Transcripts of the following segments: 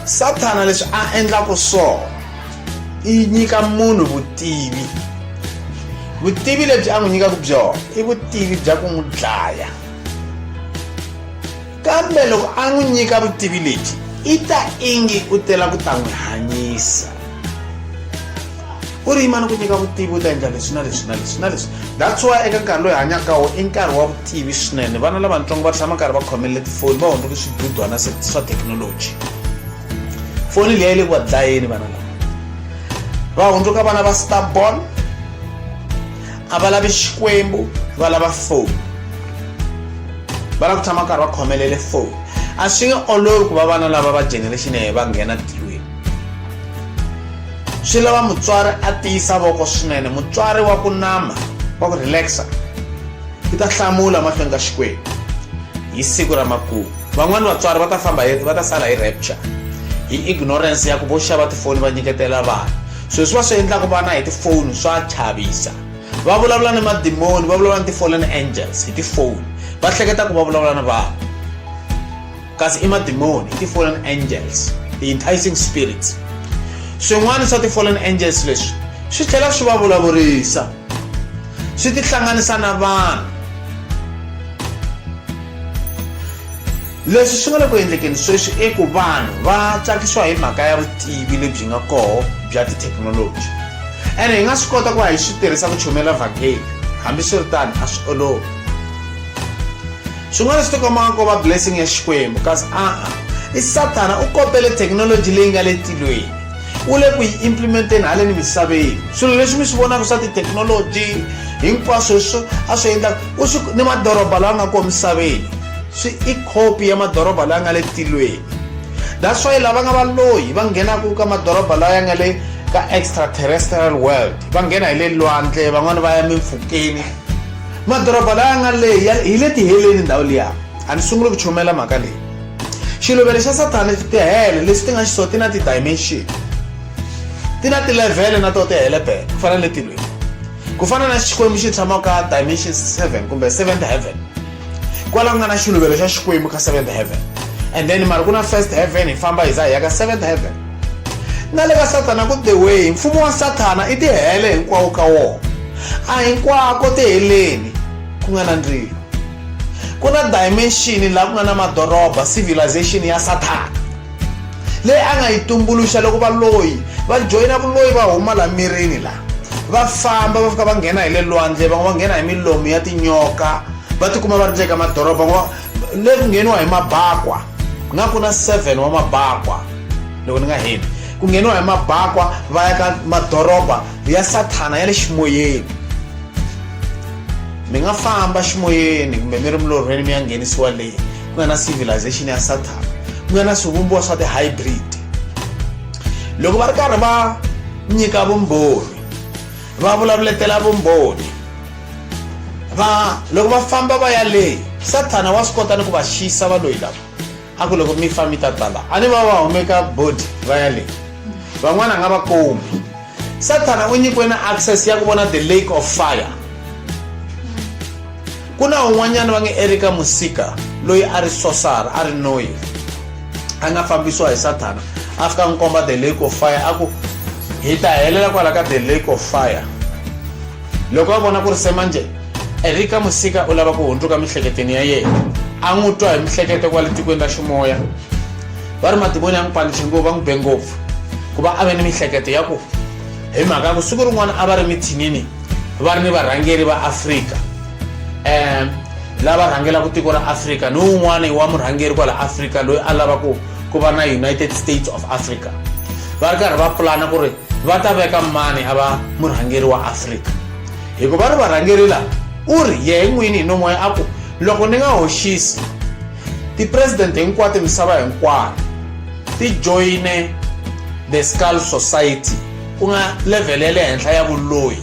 sathana leswi a endlaka swona i nyika munhu vutivi vutivi lebyi a n'wi nyikaka byona i vutivi bya ku n'wi dlaya kambe loko a n'wi nyika vutivi lebyi i ta ingi u tela ku ta n'wi hanyisa u ri yima ni ku nyika vutivi u ta endla leswi na leswi na leswi na leswi that's why eka nkarhi loyi hanyaka wo i nkarhi wa vutivi swinene vana lavatsongo va tshama karhi va khomelele tifoni va hundzuke swidudwana swa thekinoloji foni leyi le ku va dlayeni vana lava va hundzuka vana va starbon a va lavi xikwembu va lava foni va lava ku tshama karhi va khomelele foni a swi nge olovi ku va vana lava va generation ya va nghena tilweni swi lava mutswari a tiyisa voko swinene mutswari wa ku nama wa ku relaxa i ta hlamula mahlweni ka xikwembu hi siku ra makumu van'wani vatswari va ta famba va ta sala hi rapture hi ignorance ya ku vo xava tifoni va nyiketela vana swilo swi va swi endlaka vana hi tifoni swa chavisa va vulavula ni madimoni va vulavula ni ti-fallen angels hi tifoni va hleketa ku va vulavula ni vanhu kasi i madimoni i ti-fallen angels ti-enticing spirits swin'wana swa ti-fallen angels leswi swi tlhela swi va vulavurisa swi tihlanganisa na vanhu leswi swi nga le ku endlekeni sweswi i ku vanhu va tsakisiwa hi mhaka ya vutivi lebyi nga koho bya tithekinoloji ene hi nga swi kota ku va hi swi tirhisa ku chomela vhakeli hambiswiritano a swi olovi swin'wana swi tikomaka ko va blessing ya xikwembu kasi a-a i sathana u kopele thekinoloji leyi nga le tilweni u le ku yi implementeni haleni misaveni swilo leswi mi swi vonaka swa tithekinoloji hinkwaswo swo a swi endla u swi ni madoroba lawa nga kona misaveni swi i khopi ya madoroba lawa nga le tilweni that's why lava nga valoyi va nghenaka ka madoroba lawa ya nga le ka extraterrestrial world va nghena hi le lwandle van'wani va ya mimpfhukeni madoroba laya nga le hi le tiheleni ndhawu liya a ni sunguli ku chumela mhaka leyi xiluvelo xa sathana tihele leswi ti nga xisoo ti na ti-dimension ti na tilevhele na to tihele bele ku fana na le tilweni ku fana na xikwembu xi tshama ka dimension seven kumbe seventh heaven kwala ku nga na xiluvelo xa xikwembu ka seventh heaven and then mari ku na first heaven hi famba hi za hi ya ka seventh heaven na le ka sathana ku the way mfumo wa sathana i tihele hinkwawo ka wona a hinkwako tiheleni ku nga na ndzilo ku na dimension laha ku nga na madoroba civilization ya sathana leyi a nga yi tumbuluxa loko valoyi va joyina vuloyi va huma la mirini la va famba va fika va nghena hi le lwandle van'we va nghena hi milomu ya tinyoka va tikuma va ri nje ka madoroba va le ku ngheniwa hi mabakwa nga ku na seven wa mabakwa loko ni nga heli ku ngheniwa hi mabakwa va ya ka madoroba ya sathana ya le ximoyeni mi nga famba ximoyeni kumbe mi ri milorhweni mi ya nghenisiwa leyi ku nga na civilization ya sathana ku nga na swivumbiwa swa ti-hybrid loko va ri karhi va nyika vumbhoni va vulavuletela vumbhoni va loko va famba va ya leyi sathana wa swi kota ni ku va xiyisa va loyi lava a ku loko mi fa mi ta tala a ni va va humeka body va ya leyi van'wana a nga va kumi sathana u nyikiwe na access ya ku vona the lake of fire ku na un'wanyana va nge erika musika loyi a ri sosara a ri noyi a nga fambisiwa hi sathana a fika n'wi komba the lake of fire a ku hi ta helela kwala ka the lake of fire loko a vona ku ri se manje erika musika u lava ku hundzuka miehleketweni ya yena a n'wi twa hi miehleketo kwale tikweni ra ximoya va ri madimoni ya n'wi panixe ngopfu va n'wi be ngopfu ku va a ve ni mihleketo ya ku hi mhaka ya ku siku rin'wana a va ri mithinini va ri ni varhangeri va afrika um lava rhangelaka tiko ra afrika ni wun'wana wa murhangeri kwala afrika loyi a lavaka ku va na united states of africa va ri karhi va pulana ku ri va ta veka mani a va murhangeri wa afrika hikuva ri varhangeri laha u ri yehe n'wini hi nomoya a ku loko ni nga hoxisi Tipresidente hinkwato misava hinkwayo ti joyine the skull society ku nga level ya le henhla ya vuloyi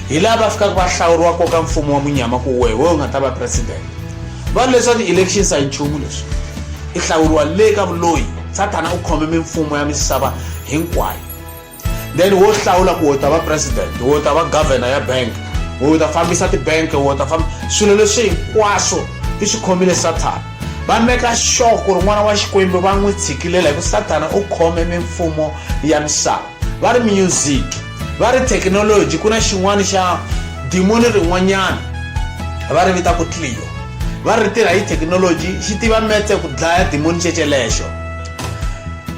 hi laha va fikaka va hlawuriwa koka mfumo wa munyama ku wehe wewe u nga ta va president va leswa ti-elections a yi nchumu leswi i hlawuriwa le ka vuloyi sathana u khome mimfumo ya misava hinkwayo then wo hlawula ku u ta va president u ta va governor ya bank u ta fambisa tibank u ta famba swilo leswi hinkwaswo i swi khomile sathana va meka sure ku ri n'wana wa xikwembu va n'wi tshikilela hi ku sathana u khome mimfumo ya misava va ri music va ri thekinoloji ku na xin'wana xa dimoni rin'wanyana va ri vita ku tlio va ri tirha hi thekinoloji xi tiva metse ku dlaya dimoni cecelexo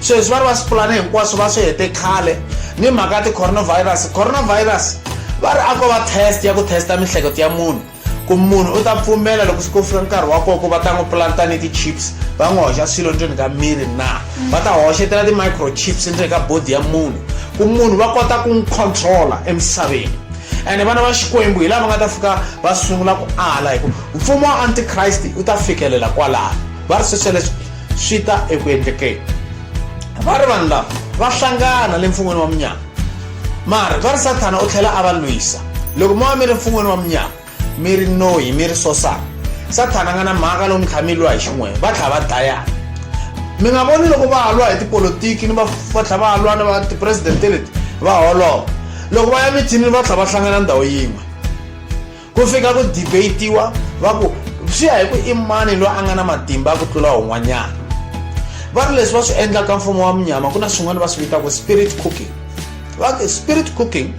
sweswi va ri va swipulani hinkwaswo va swi hete khale ni mhaka ya ti-coronavirus coronavirus va ri a ko va test ya ku testa mihleketo ya munhu ku munhu u ta pfumela loko swi ko fika nkarhi wa koko va ta n'wi planta ni ti-chips va n'wi hoxa swilo endzeni ka miri na va ta hoxetela ti-microchips endzeni ka bodi ya munhu ku munhu va kota ku n'wi controla emisaveni ene vana va xikwembu hi lava nga ta fika va sungula ku ala hi ku mfumo wa antikriste u ta fikelela kwalaho va ri swesweleswi swi ta eku endlekeni va ri vanhu lava va hlangana le mfun'weni wa munyama mara va ri sathana u tlhela a va lwisa loko mo va mi ri mfun'weni wa munyama mi ri noyi mi ri sosana sathana a nga na mhaka lowu mi tlhela mi lwa hi xin'wena va tlhela va dlayana mi nga voni loko va ha lwa hi tipolotiki ni va va tlhela va lwa na va tipresidente leti va holova loko va ya mithinini va tlhela va hlangana ndhawu yin'we ku fika ku debatiwa va ku swi ya hi ku i mani loyi a nga na matimba ya ku tlula un'wanyana va ri leswi va swi endlaka mfumo wa munyama ku na swin'wana va swi vitaka spirit cooking va spirit cooking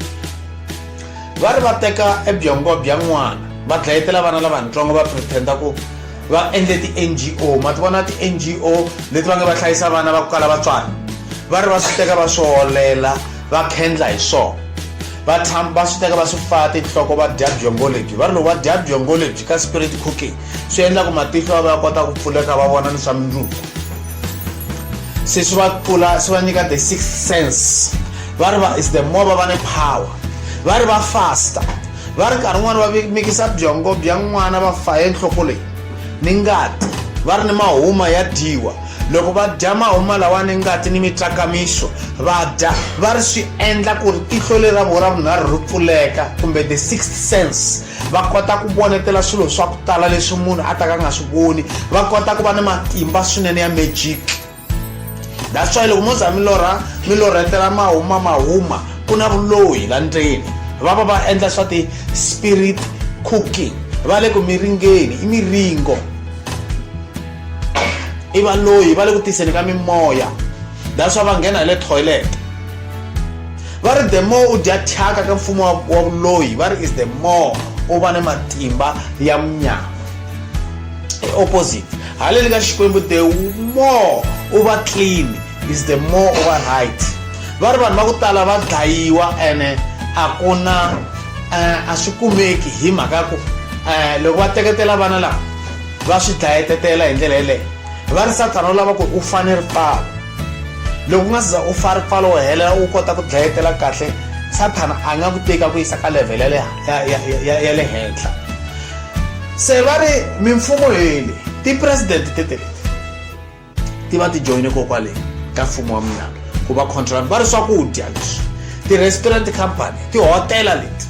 va ri va teka ebyongo bya n'wana va dlayetela vana lavatsongo va pretenda ku va endle ti-ngo ma ti vona ti-ngo leti va nge va hlayisa vana va ku kala vatswari va ri va swi teka va swi holela va khendla hi swona vatshami va swi teka va swi pfala tinhloko va dya byongo lebyi va ri loko va dya byongo lebyi ka spirit cooking swi endla ku matihlo va va ya kota ku pfuleka va vona ni swa mindzuku se swi va pfula swi va nyika the six sense va ri va is the more va va ni power va ri va fasta va ri nkarhi n'wana va mikisa byongo bya n'wana va faye nhloko leyi ni ngati va ri ni mahuma ya dyiwa loko va dya mahuma lawa ni ngati ni mitsakamiso va dya va ri swi endla ku ri tihlo leri ra vona ra vunharhu ri pfuleka kumbe the sixth sense va kota ku vonetela swilo swa ku tala leswi munhu a ta ka nga swi voni va kota ku va ni matimba swinene ya magic that's why loko mo za milorha milorhetela mahuma mahuma ku na vuloyi la ndzeni va va va endla swa ti-spirit cooking va le ku miringeni i miringo i valoyi va le ku tiseni ka mimoya that's why va nghena hi le toilet va ri the more u dya thyaka ka mfumo wa vuloyi va ri is the more u va ni matimba ya munyama e opposite haleni ka xikwembu the more u va clean is the more u va right va ri vanhu va ku tala va dlayiwa ene a ku na eh, a swi kumeki hi mhaka ku eh, loko va teketela vana lava va swi dlayetetela hi ndlela yeleyo va ri sathana u lava ku u fane ripfalo loko u nga siza u fa ripfalo wo helela u kota ku dlayetela kahle sathana a nga ku teka ku yisa ka level ya le henhla se va ri mimfumo heli tipresidente teteleti ti va ti joyine kokwale ka mfumo wa mina ku va contract va ri swakudya leswi ti-restaurant company tihotela leti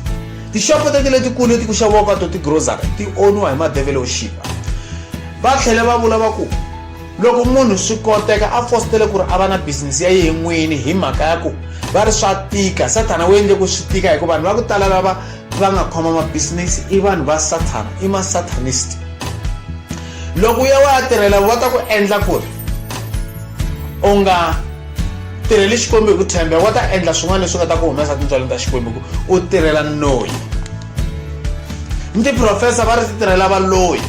tixopo teti letikulu leti ku xaviwaka to tigrocery ti oniwa hi madevelo xiva va tlhela va vula va ku loko munhu swi koteka a fositele ku ri a va na bizinesi ya yehe n'wini hi mhaka ya ku va ri swa tika sathana wu endle ku swi tika hikuva vanhu va ku tala lava va nga khoma mabisinesi i vanhu va sathana i masathanist loko u ya wa ya tirhela va ta ku endla ku ri u nga tirheli xikwembu hi ku tshembeka va ta endla swin'wana leswi nga ta ku humesa tintswalo ta xikwembu ku u tirhela noyi ni tiprofesa va ri ti tirhela valoyi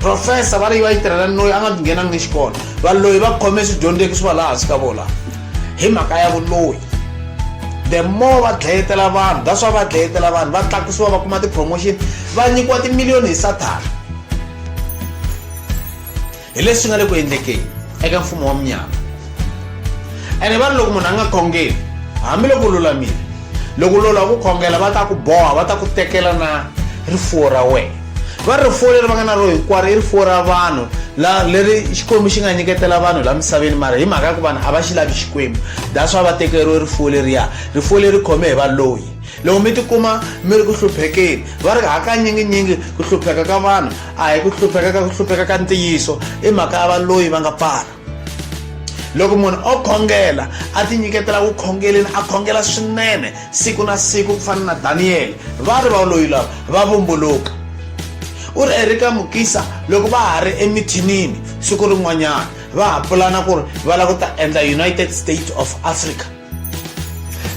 profesa va ri va yi tirhela noyi a nga nghenangi ni xikolo valoyi va khome swidyondzeki swi va laha hansi ka vona hi mhaka ya vuloyi the more va dlayetela vanhu that's why va dlayetela vanhu va tlakusiwa va kuma ti-promotion va nyikiwa timiliyoni hi sathana hi leswi nga le ku endlekeni eka mfumo wa munyama ene va ri loko munhu a nga khongeli hambiloko lulamile loko lolo wa ku khongela va ta ku boha va ta ku tekela na rifuwo ra wena va ri rifuwo leri va nga na ro hinkwaro i rifuwo ra vanhu la leri xikwembu xi nga nyiketela vanhu la misaveni mara hi mhaka ya ku vanhu a va xi lavi xikwembu that's why va tekeriwe rifuwo leriya rifuwo leri khome hi valoyi loko mi tikuma mi ri ku hluphekeni va ri hakanyiginyingi ku hlupheka ka vanhu a hi ku hlupheka ka ku hlupheka ka ntiyiso i mhaka ya valoyi va nga pfala loko munhu o khongela a tinyiketela ku khongeleni a khongela swinene siku na siku ku fana na daniyele va ri valoyi lava va vumbuluka u ri erika mukisa loko va ha ri emithinini siku rin'wanyana va ha pulana ku ri va lava ku ta endla united states of africa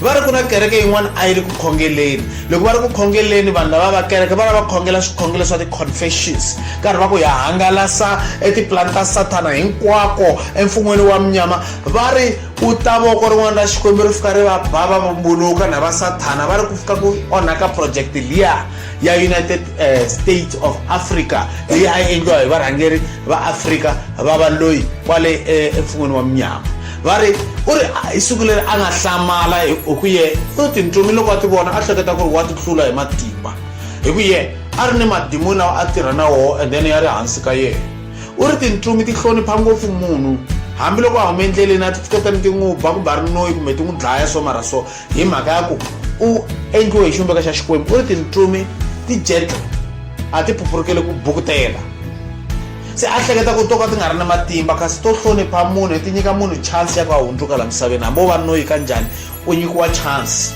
va ri ku na kereke yin'wana a yi ri ku khongeleni loko va ri ku khongeleni vanhu lava va kereke va lava va khongela swikhongelo swa ti-confessions karhi va ku ya hangalasa etipulani ta sathana hinkwako emfun'weni wa munyama va ri u ta voko rin'wana ra xikwembu ri fika ri va ba va vumbuluka na va sathana va ri ku fika ku onhaka project liya ya united uh, states of africa leyi a yi endliwa hi varhangeri va afrika va va loyi kwale eh, emfun'weni wa munyama va ri u ri hi siku leri a nga hlamala hi ku ye u tintsumi loko a ti vona a hleketa ku ri wa ti hlula hi matimba hi ku ye a ri ni madimoni lawa a tirha na woho and then ya ri hansi ka yena u ri tintsumi ti hlonipha ngopfu munhu hambiloko a hume endleleni a ti tshiketa ni ti n'wi ba kumbe a ri noyi kumbe ti n'wi dlaya so mara so hi mhaka ya ku u endliwe hi xivumbeko xa xikwembu u ri tintsumi ti gentle a ti phuphurukeli ku bukutela se a hleketa ku to ka ti nga ri na matimba kasi to hlonipha munhu ti nyika munhu chance ya ku a hundzuka la misaveni hambi o va noyi ka njhani u nyikiwa chance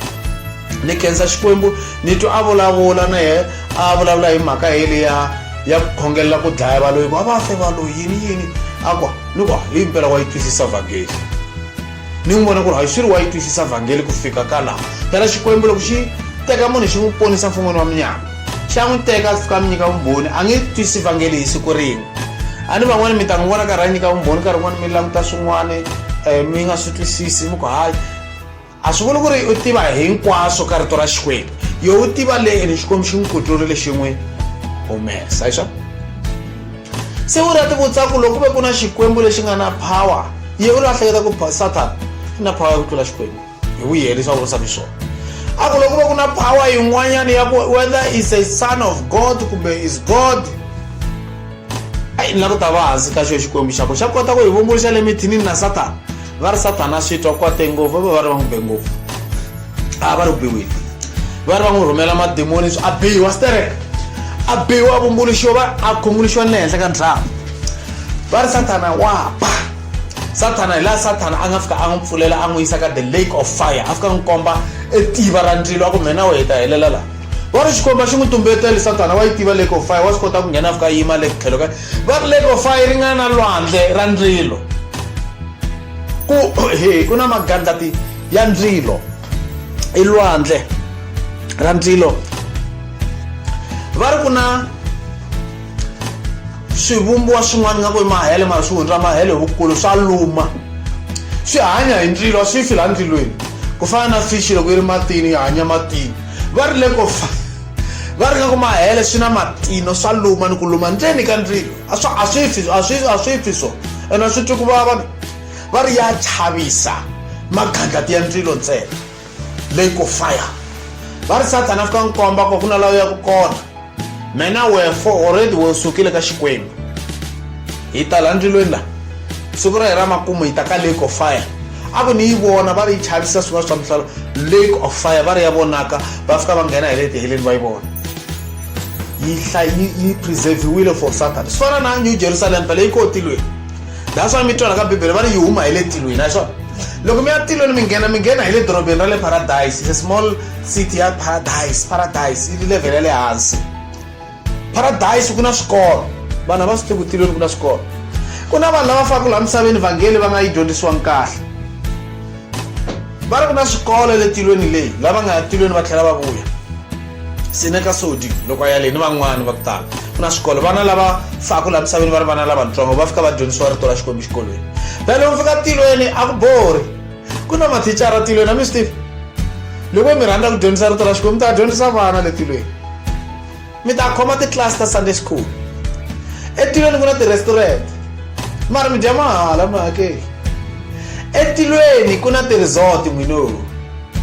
ni khensa xikwembu ni twa a vulavula na ye a vulavula hi mhaka yeli ya ya ku khongelela ku dlaya valoyi ku a va fe valoyi yini yini a ku ni ku hi mpela wa yi twisisa vhangeli ni n'wi vona ku ri hayi swi ri wa yi twisisa vhangeli ku fika ka laha phela xikwembu loko xi teka munhu xi n'wi ponisa mfun'wini wa munyama xa n'wi teka a fika mi nyika vumbhoni a nge twisi vhangeli hi siku rin'we a ni van'wani mi ta n'wi vona karhi a nyika vumbhoni nkarhi wun'wani mi languta swin'wana um eh, mi nga swi twisisi mi ku hayi a swi vuli ku ri u tiva hinkwaswo ka rito ra xikwembu yo u tiva le ene xikwembu xi n'wi kuturile xi n'wi humesa hi swona se u rati vutsaku loko ku ve ku na xikwembu lexi nga na power ye u lahleketa ku satan i na power ya ku tlula xikwembu hi wu yelisa u vutisa xiswona a ku loko ku ve ku na power yin'wanyana ya ku whether is a son of god kumbe is god ayi ni la ku ta va hansi ka xo xikwembu xa ku xa kota ku hi vumbuluxa le mithinini na satan va ri satana swi twa kwate ngopfu va va va ri va n'wi be ngopfu a va ri ku biweni va ri va n'wi rhumela mademoni swi a biwa sterek a biwa a vumbuluxiwa va a khunguluxiwa ni le henhla ka ndlava va ri sathana wa ba sathana hi laha sathana a nga fika a n'wi pfulela a n'wi yisa ka the lake of fire a fika a n'wi komba etiva ra ndzilo a ku mhena we hi ta helela laha va ri xikomba xi n'wi tumbetele sathana wa yi tiva lake of fire wa swi kota ku nghena a fika a yima le tlhelo ka va ri lake of fire ri nga na lwandle ra ndzilo ku he ku na magandlati ya ndzilo i lwandle ra ndzilo va ri ku na swivumbiwa swin'wana nga ku i mahele mara swi hundza mahele hi vukulu swa luma swi hanya hi ndzilo swi fi laha ndzilweni ku fana na fishi loko yi ri matini yi hanya matini va ri le ko fa va ri nga ku mahele swi na matino swa luma ni ku luma ndzeni ka ndzilo a swi fi a swi a swi fi so ene swi twi ku vava va ri ya chavisa magandlati ya ndzilo ntsena leyi ko fire va ri sathana fika n'wi komba ku ku na lawa ya ku kona mena wefo already wo sukile ka xikwembu hi tala ndzilweni la siku ra hi ra makumu hi ta ka lake of fire a ku ni yi vona va ri yi chavisa swin'wana swa mihlalo lake of fire va ri ya vonaka va fika va nghena hi le tiheleni va yi vona yi yi preserviwile for sathana swi fana na new jerusalem phela yi kotilweni that's why mi twala ka bibele va ri yi huma hi le tilweni a swona loko mi ya tilweni mi nghena mi nghena hi le dorobeni ra le paradise is a small city ya paradise paradise yi level ya le hansi paradise ku na swikolo vanhu a va swi tivi ku tilweni ku na swikolo ku na vanhu lava faka laha misaveni vhangeli va nga yi dyondzisiwangi kahle va ri ku na swikolo le tilweni leyi lava nga ya tilweni va tlhela va vuya sineka sodi loko a ya leyi ni van'wani va ku tala ku na swikolo vana lava faku laha misaveni va ri vana lavatsongo va fika va dyondzisiwa rito ra xikwembu xikolweni la loko fika tilweni a ku bori ku na mathicara tilweni a mi swi tivi loko mi rhandza ku dyondzisa rito ra xikwembu ta dyondzisa vana le tilweni mi ta khoma titlasi ta sunday school etilweni ku na ti-restaurant mara mi dya mahala mi hakeli etilweni ku na ti-resort n'wino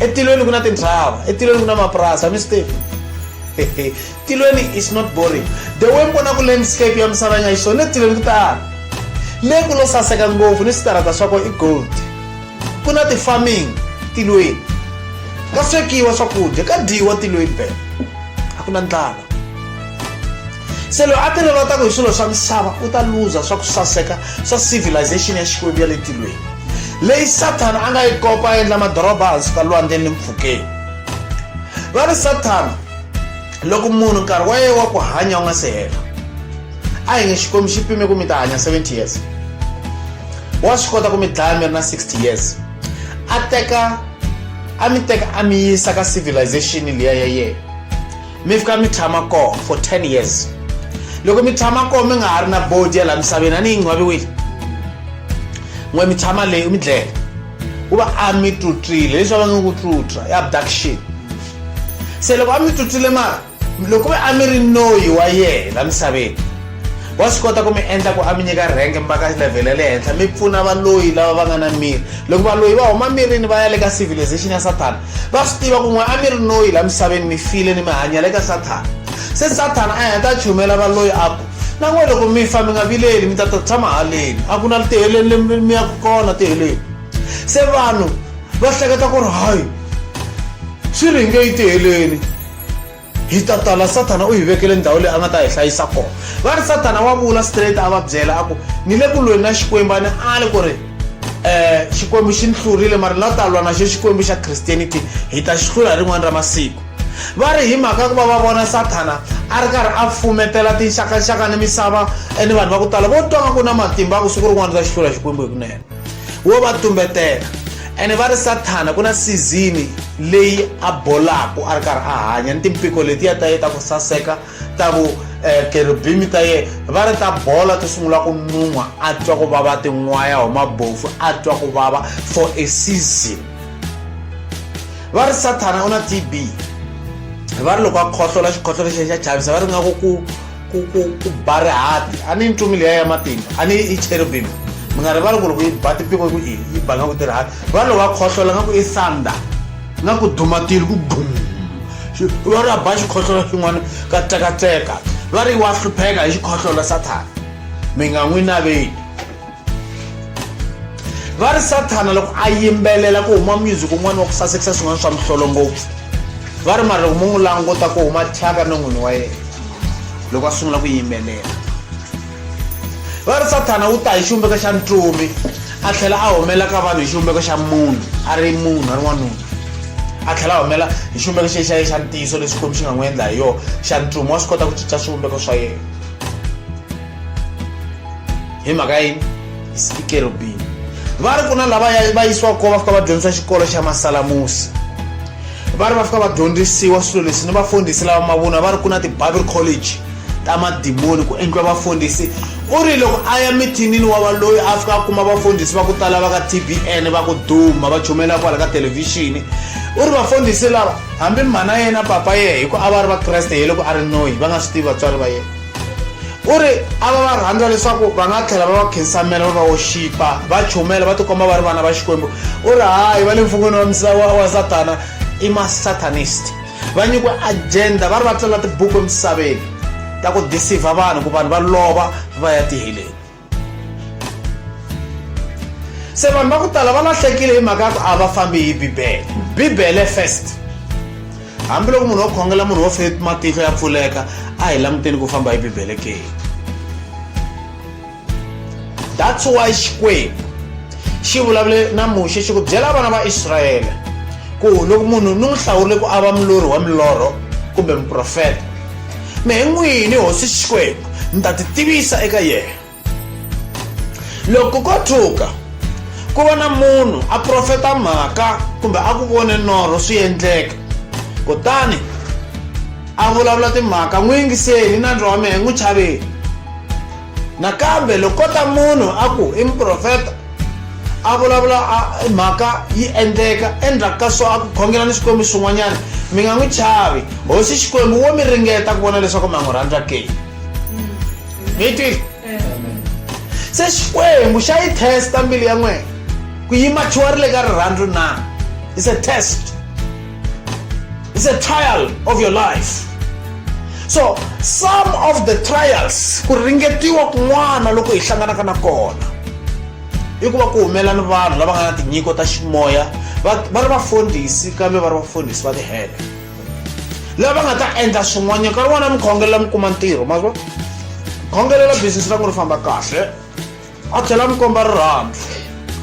etilweni ku na tintrava etilweni ku na mapurasi a mi swi tivi tilweni is not boring the way mi vonaku landscape ya misava yi nga yi swona etilweni ku tala le ku lo saseka ngopfu ni switarata swa ko i gold ku na ti-farming tilweni ka swekiwa swakudya ka dyiwa tilweni bela a ku na ndlala se loyi a tirhelataku hi swilo swa misava u ta luza swa ku saseka swa civilization ya xikwembu ya le tilweni leyi sathana a nga yi kopa a endla madoroba hansi ka lwandle ni mpfhukeni va ri sathana loko munhu nkarhi wa yena wa ku hanya wu nga se hela a hi nge xikwembu xi pime ku mi ta hanya 70 years wa swi kota ku mi dlaya mi ri na 60 years a teka a mi teka a mi yisa ka civilization liya ya yena mi fika mi tshama kona for 10 years loko mi tshama kona mi nga ha ri na bodi ya laha misaveni a ni yi ngcwaviwile n'we mi tshama leyi mi dlele ku va a mi tlutlile leswi va va nge ku tlutla i abduction se loko a mi tsutsile mara loko ve a mi ri noyi wa yena la misaveni wa swi kota ku mi endla ku a mi nyika rhenke mi va ka level ya le henhla mi pfuna valoyi lava va nga na miri loko valoyi va huma mirini va ya le ka civilization ya sathana va swi tiva ku n'we a mi ri noyi la misaveni mi file ni mi hanya le ka sathana se sathana a heta chumela valoyi a ku na n'we loko mi fa mi nga vileli mi ta ta tshama haleni a ku na tiheleni lemi mi yaku kona tiheleni se vanhu va hleketa ku ri hayi swi ringe yi tiheleni hi ta tala sathana u hi vekele ndhawu leyi a nga ta hi hlayisa kona va ri sathana wa vula straight a va byela a ku ni le ku lweni na xikwembu a ni ali ku ri um xikwembu xi ni hlurile mara ni la ta lwa na xo xikwembu xa christianity hi ta xi hlula hi rin'wana ra masiku va ri hi mhaka ku va va vona sathana a ri karhi a fumetela tinxakanxaka ni misava ni vanhu va ku tala vo twa nga ku na matimba a ku siku rin'wana ta xi hlula xikwembu hi kunene wo va tumbetela ene va ri sathana ku na sizini leyi a bolaku a ri karhi a hanya ni timpiko letiya ta ye ta ku saseka ta vu eh, kerubimi ta ye va ri ta bola ti sungula ku nun'wa a twa ku vava tin'waya huma bofu a twa ku vava for a season va ri sathana u na tb va ri loko a khohlola xikhohlola xexi xa chavisa va ri nga ku ku ku ku ku ba rihati a ni yi ncumi leya ya matimba a ni yi cherubim mi nga rivali ku loko yi ba tipiko ku i yi ba nga ku tirihati va loko va khohlola nga ku i sanda nga ku dumatile ku bum va ri a ba xikhohlola xin'wana ka tsekatseka va ri wa hlupheka hi xikhohlola sathana mi nga n'wi naveli va ri sathana loko a yimbelela ku huma music un'wana wa ku sasekisa swin'wana swa mihlolo ngopfu va ri mara loko mu n'wi languta ku huma thyaka no n'wini wa yena loko a sungula ku yimbelela va ri sathana wu ta hi xivumbeko xa ntumi a tlhela a humela ka vanhu hi xivumbeko xa munhu a ri munhu a ri n'wanuna a tlhela a humela hi xivumbeko xe xa ye xa ntiyiso lexi xikwembu xi nga n'wi endla hi yona xa ntumi wa swi kota ku cinca swivumbeko swa yena hi mhaka ya yini hi sikerubini va ri ku na lava va yisiwaka kona va fika va dyondzisa xikolo xa masalamusi va ri va fika va dyondzisiwa swilo leswi ni vafundhisi lava mavunwa va ri ku na ti-bible college ta madimoni ku endliwa vafundhisi u ri loko a ya mithinini wa valoyi a fika a kuma vafundhisi va ku tala va ka tbn va ku duma va chumela kwala ka thelevhixini u ri vafundhisi lava hambi mhana yena papa yena hi ku a va ri vakreste hi loko a ri noyi va nga swi tivi vatswari va yena u ri a va va rhandza leswaku va nga tlhela va va khensamela va va woxipa va chumela va tikomba va ri vana va xikwembu u ri hayi va le mfun'wini wa misava wa satana i masatanist va nyikiwe agenda va ri va tsala tibuku emisaveni ta ku disivha vanhu ku vanhu va lova va ya tiheleni se vanhu va ku tala va lahlekile hi mhaka ya ku a va fambi hi bibele bibele first hambiloko munhu wo khongela munhu wo fe matihlo ya pfuleka a hi languteni ku famba hi bibele ke that's why xikwembu xi vulavule na muxe xi ku byela vana va israyele ku loko munhu ni n'wi hlawurile ku a va mulorhi wa milorho kumbe muprofeta mehe n'wini hosi xikwembu ni ta titivisa eka yena loko ko tshuka ku va na munhu a profeta mhaka kumbe a ku vone norho swi endleka kutani a vulavula timhaka n'wi yingiseli na ndzi wa mehe n'wi chaveli nakambe loko kota munhu a ku i muprofeta a vulavula a mhaka yi endleka endzhaku ka so a ku khongela ni swikwembu swin'wanyana mi nga n'wi chavi hosi xikwembu wo mi ringeta ku vona leswaku mi a n'wi rhandza ke mi yi twile se xikwembu xa yi testa mbilu ya n'wena ku yi machiwarile ka rirhandzu na is a test It's a trial of your life. So some of the trials ku ringetiwa kun'wana loko hi hlanganaka na kona i ku va ku humela ni vanhu lava nga na tinyiko ta ximoya va ri vafundhisi kambe va ri vafundhisi va tihele lava nga ta endla swin'wanyana nkarhi wun'wana mi khongelela mi kuma ntirho ma khongelela business ra n'wi ri famba kahle a tlhela mi komba rirhandzu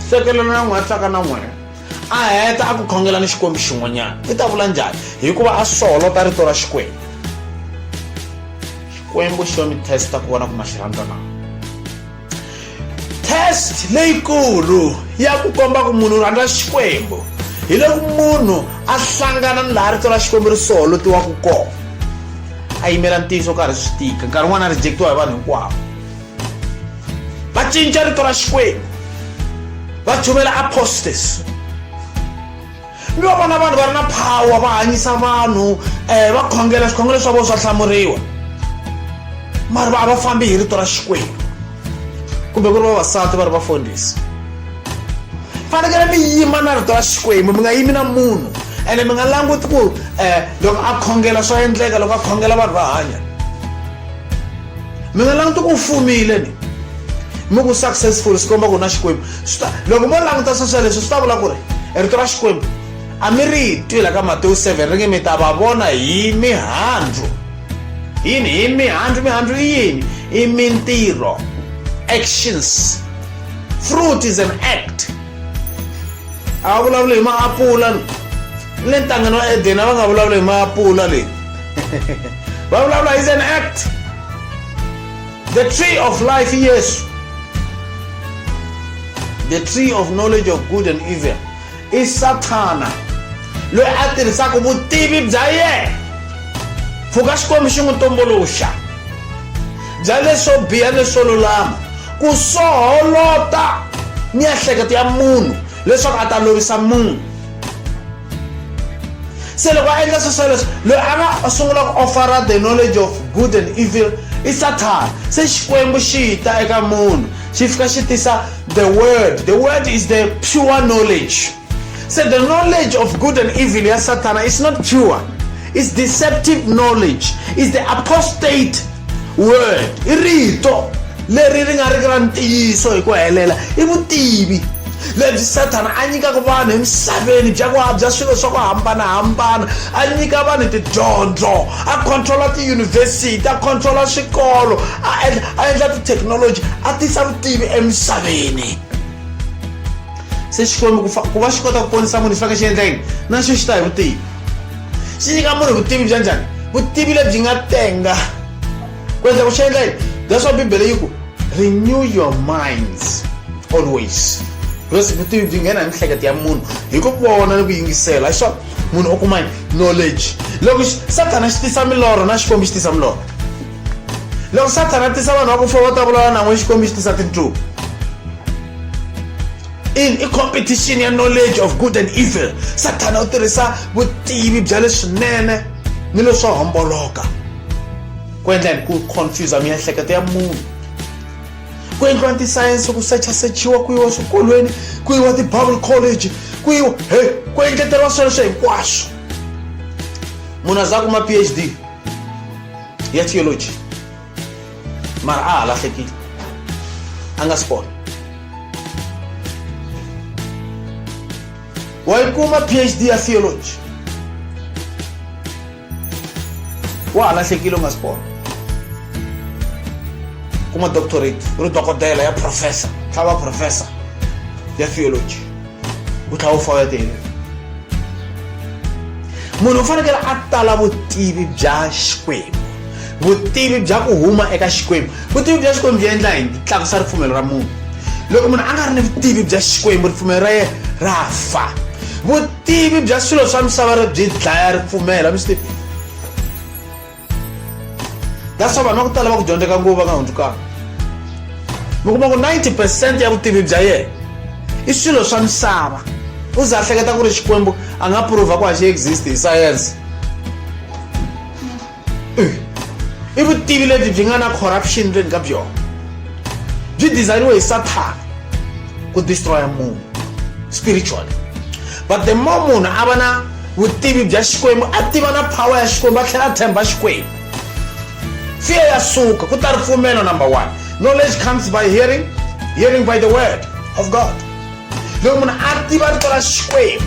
hlekelelo na n'wi hatlaka na n'wina a heta a ku khongela ni xikwembu xin'wanyana i ta vula njhani hikuva a soholota rito ra xikwembu xikwembu xo mi testa ku vona ku ma xi rhandza na test leyikulu ya ku komba ku munhu rhandza xikwembu hi loko munhu a hlangana ni laha rito ra xikwembu ri soholotiwaku kona a yimela ntiyiso karhi swi tika nkarhi wun'wana a rejectiwa hi vanhu hinkwavo va cinca rito ra xikwembu va chuvela apostas mi va vona vanhu va ri na power va hanyisa vanhu um va khongela swikhongelo swa vona swa hlamuriwa mari va a va fambi hi rito ra xikwembu kumbe ku ri vavasati va ri vafundhisi fanekele mi yima na rito ra xikwembu mi nga yimi na munhu ene mi nga languti ku um loko a khongela swa endleka loko a khongela vanhu va hanya mi nga languti ku fumile ni mi ku successful swi komba ku na xikwembu loko mo languta sweswo leswi swi ta vula ku ri rito ra xikwembu a mi ri twi la ka matewu 7 ri nge mi ta va vona hi mihandzu yini hi mihandzu mihandzu i yini i mintirho actions fruit is an act a va vulavuli hi maapula ni le ntangeni wa edeni a va nga vulavula hi maapula leyi va vulavula is an act the tree of life yesu the tree of knowledge of good and evil i sathana loyi a tirhisaka vutivi bya yena pfuka xikwembu xi n'wi tumbuluxa bya leswo biha leswo lulama ku soholota miehleketo ya munhu leswaku a ta lovisa munhu se loko a endla swilo sweleswo loyi a nga sungula ku ofara the knowledge of good and evil i sathana se xikwembu xi ta eka munhu xi fika xi tisa the word the word is the pure knowledge se the knowledge of good and evil ya sathana is not pure is deceptive knowledge is the apostate word i rito leri ri nga riki ra ntiyiso hi ku helela i vutivi lebyi sathana a nyikaka vanhu emisaveni bya ku habya swilo swa ku hambanahambana a nyika vanhu tidyondzo a controla tiyunivhesiti a controla swikolo a endla a endla tithekinoloji a tisa vutivi emisaveni se xikwembu ku va xi kota ku ponisa munhu xi faneke xi endla yini na xo xi ta hi vutivi swi nyika munhu vutivi bya njhani vutivi lebyi nga tenga ku endla ku swi endla yini that's why bibele yi ku renew your minds always because vutivi byi nghena hi mihleketo ya munhu hi ku vona ni ku yingisela hi swona munhu u kuma knowledge loko sathana xi tisa milorho na xikwembu xi tisa milorho loko sathana tisa vanhu va ku fa va ta vulavula nan'we xikwembu xi tisa tintluku in i competition ya knowledge of good and evil sathana u tirhisa vutivi bya leswinene ni leswo homboloka ku endla yini ku confuse miehleketo ya munhu ku endliwa tisayense ku sechasechiwa ku yiwa swikolweni ku yiwa ti-bible college ku yiwa he ku engeteriwa sweleswo hinkwaswo munhu a za kuma phd ya theology mara a ha lahlekile a nga swi kona wa yi kuma phd ya theology wa ha lahlekile u nga swi kona kuma doctorate u ri dokodela ya professor tlhava professor ya theology wu tlhela wu fayetele munhu u fanekele a tala vutivi bya xikwembu vutivi bya ku huma eka xikwembu vutivi bya xikwembu byi endla yini byi tlakusa ripfumelo ra munhu loko munhu a nga ri ni vutivi bya xikwembu ripfumelo ra yena ra fa vutivi bya swilo swa misava ri byi dlaya ripfumelo mi swi tivi that's why vanhu va ku tala va ku dyondzeka nguva va nga hundzukanga mi kuma ku 90 percent ya vutivi bya yena i swilo swa misava u za hleketa ku ri xikwembu a nga prova ku a xi exist hi sayense i vutivi lebyi byi nga na corruption ndzeni ka byona byi designwe hi sathana ku destroya munhu spiritually but the more munhu a va na vutivi bya xikwembu a tiva na power ya xikwembu a tlhela a tshemba xikwembu fear ya suka ku ta ripfumelo number one knowledge comes by hearing hearing by the word of god loko munhu a tiva rito ra xikwembu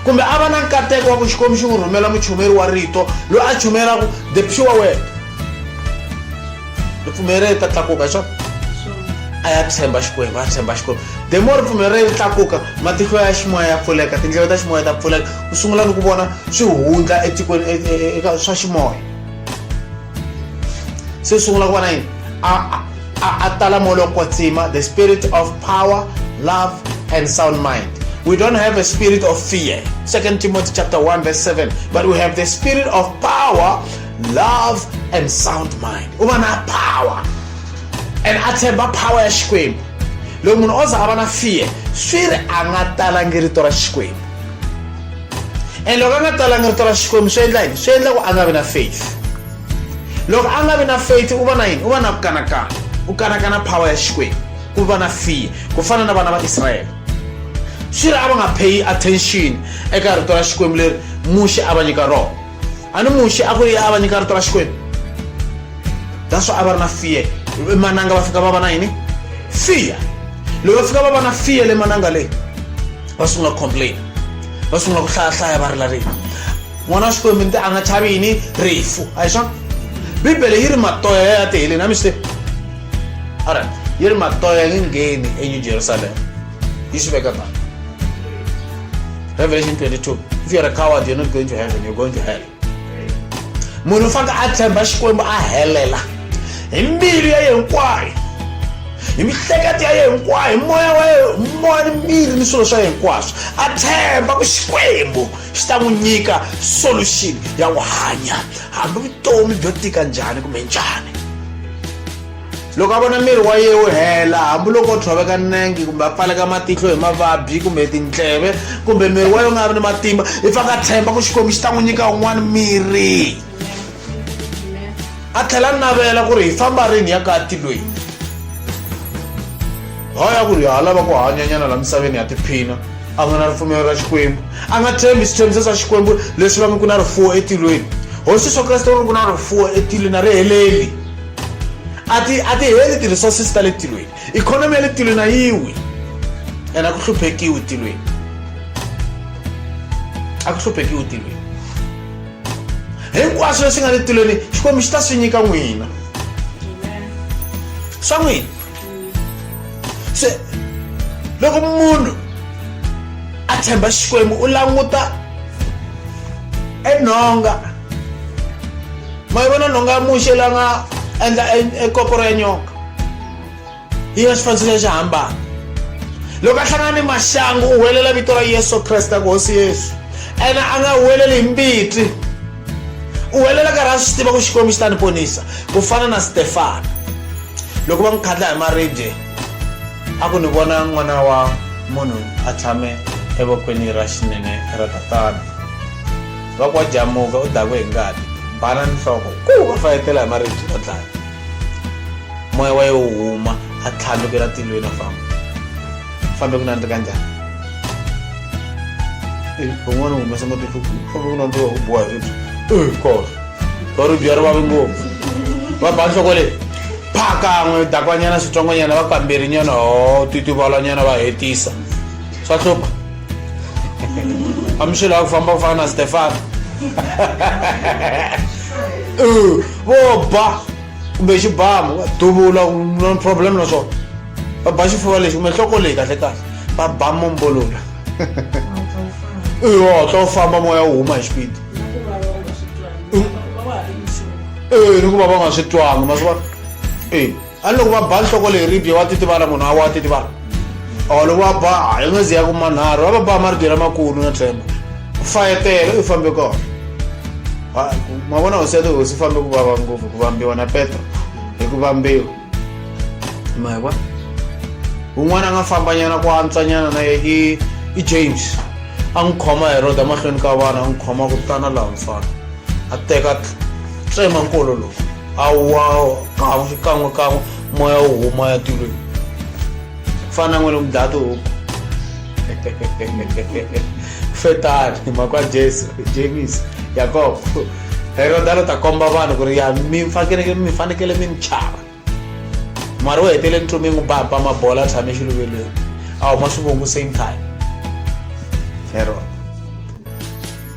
kumbe a va na nkateko wa ku xikwembu xi n'wi rhumela muchumeri wa rito loyi a chumelaka the pure word ripfumelo leri ta tlakuka hi swona a ya tshemba xikwembu a tshemba xikwembu the more ripfumelo leri tlakuka matihlo ya ximoya ya pfuleka tindlela ta ximoya ta pfuleka u sungula ni ku vona swi hundla etikweni e, e, e, eka swa ximoya se u sungula ku vona yini a tala moya lowo kwatsima the spirit of power love and sound mind we don't have a spirit of fear. Second Timothy chapter 1 verse 7. But we have the spirit of power, love and sound mind u va na power and a tshemba power ya xikwembu loko munhu o za a va na fear swi ri a nga talangi rito ra xikwembu and loko a nga talangi rito ra xikwembu swi endla yini swi endla ku a nga vi na faith loko a nga vi na faith u va na yini u va na ku kanakana u kanakana power ya xikwembu ku va na fear ku fana na vana va israyele swi ri a va nga pay attention eka rito ra xikwembu leri muxe a va nyika rona a ni muxe a ku a va nyika rito ra xikwembu that's why a va ri na fear emananga va fika va va na yini fear loko va fika va va na fear le mananga leyi va sungula ku complain va sungula ku hlayahlaya va rila rito n'wana wa xikwembu nti a nga chavi yini rifu a hi swona bibele yi ri matoya ya ya tiheleni a mi swi tivi alright yi ri matoya nge ngheni enew jerusalema You should be a man. Revelation 22. If you're a coward, you're not going to heaven, you're going to hell. munhu fanike a tshemba xikwembu a helela hi mbilu ya yena hinkwayo hi mihleketo ya yena hinkwayo hi moya wa yena moya ni mbilu ni swilo swa yena hinkwaswo a tshemba ku xikwembu xi ta n'wi nyika solution ya ku hanya hambi vutomi byo tika njhani kumbe njhani loko a vona miri wa yena wu hela hambiloko o tshoveka nenge kumbe a pfaleka matihlo hi mavabyi kumbe tindleve kumbe miri wa yena u nga vi ni matimba i fa ka tshemba ku xikwembu xi ta n'wi nyika un'wana miri a tlhela navela ku ri hi famba rini ya ka ti loyi haya ku ri ha lava ku hanyanyana la misaveni ya tiphina a nga na ripfumelo ra xikwembu a nga tshembi switshembiso swa xikwembu leswi va ngi ku na rifuwo etilweni hosi swo kreste ri ku na rifuwo etilweni a ri heleli a ti a ti heli ti-resources ta le tilweni ikhonomi ya le tilweni a yi wi and a ku hluphekiwi tilweni a ku hluphekiwi tilweni hinkwaswo leswi nga le tilweni xikwembu xi ta swi nyika n'wina swa n'wina se loko munhu a tshemba xikwembu u languta enhonga ma yi vona nhonga ya muxe la nga endla ekoporo ya nyoka yi ya xifanisiso xa xihambana loko a hlangana ni maxangu u huwelela vito ra yesu kreste ku hosi yesu ene a nga huweleli hi mbiti u helela karhi a swi tiva ku xikwembu xi ta ni ponisa ku fana na stefana loko va n'wi khatla hi maribye a ku ni vona n'wana wa munhu a tshame evokweni ra xinene ra tatana va ku wa jamuka u dakwe hi ngati bana nhloko ku va fayetela hi maribye va dlaya moya wa ye wu huma a tlhandlukela tilweni a famba fambe kuna ndikanjani van'wana humesa matihlo fambe kuna ndiwa ku boha ribyi kor va ribyi ya ri vavi ngopfu va ba nhloko leyi phakan'we dakwanyana switsongonyana va kamberi nyana ho titivalanyana va hetisa swa hlupha amixilo ya ku famba ku fana na stefano vo ba kumbe xibamu va duvula no problem na swona va ba xifuva lexi kumbe nhloko leyi kahle kahle va ba mombolola yo tla u famba moya wu huma hi xipidi e ni ku va va nga swi twanga ma swi vona e a ni loko va ba nhloko leyi ribye wa titivala munhu a wa titivala or loko va ba a yi nga zi ya ku manharhu va va ba maribye lamakulu na tshemba ku fayetela u fambe kona ma vona hosi ya tihosi fambe ku vava ngopfu ku vambiwa na petro hi ku vambiwa ma kwa un'wana a nga fambanyana ku antswanyana na ye i i james a n'wi khoma hi roda mahlweni ka vana a n'wi khoma ku tana laha mfana a teka tsema nkolo lowu a wa kan'we xikan'we kan'we moya wu huma ya tilweni fana n'wini mudlaya tihuku fetani hi mhaka ya jesu james yakobo heroda lo ta komba vanhu ku ri ya mi fanekele mi fanekele mi ni chava mara u hetele ntomi yi n'wi bampa mabola tshame xiluvelweni a huma swivongo same time heroda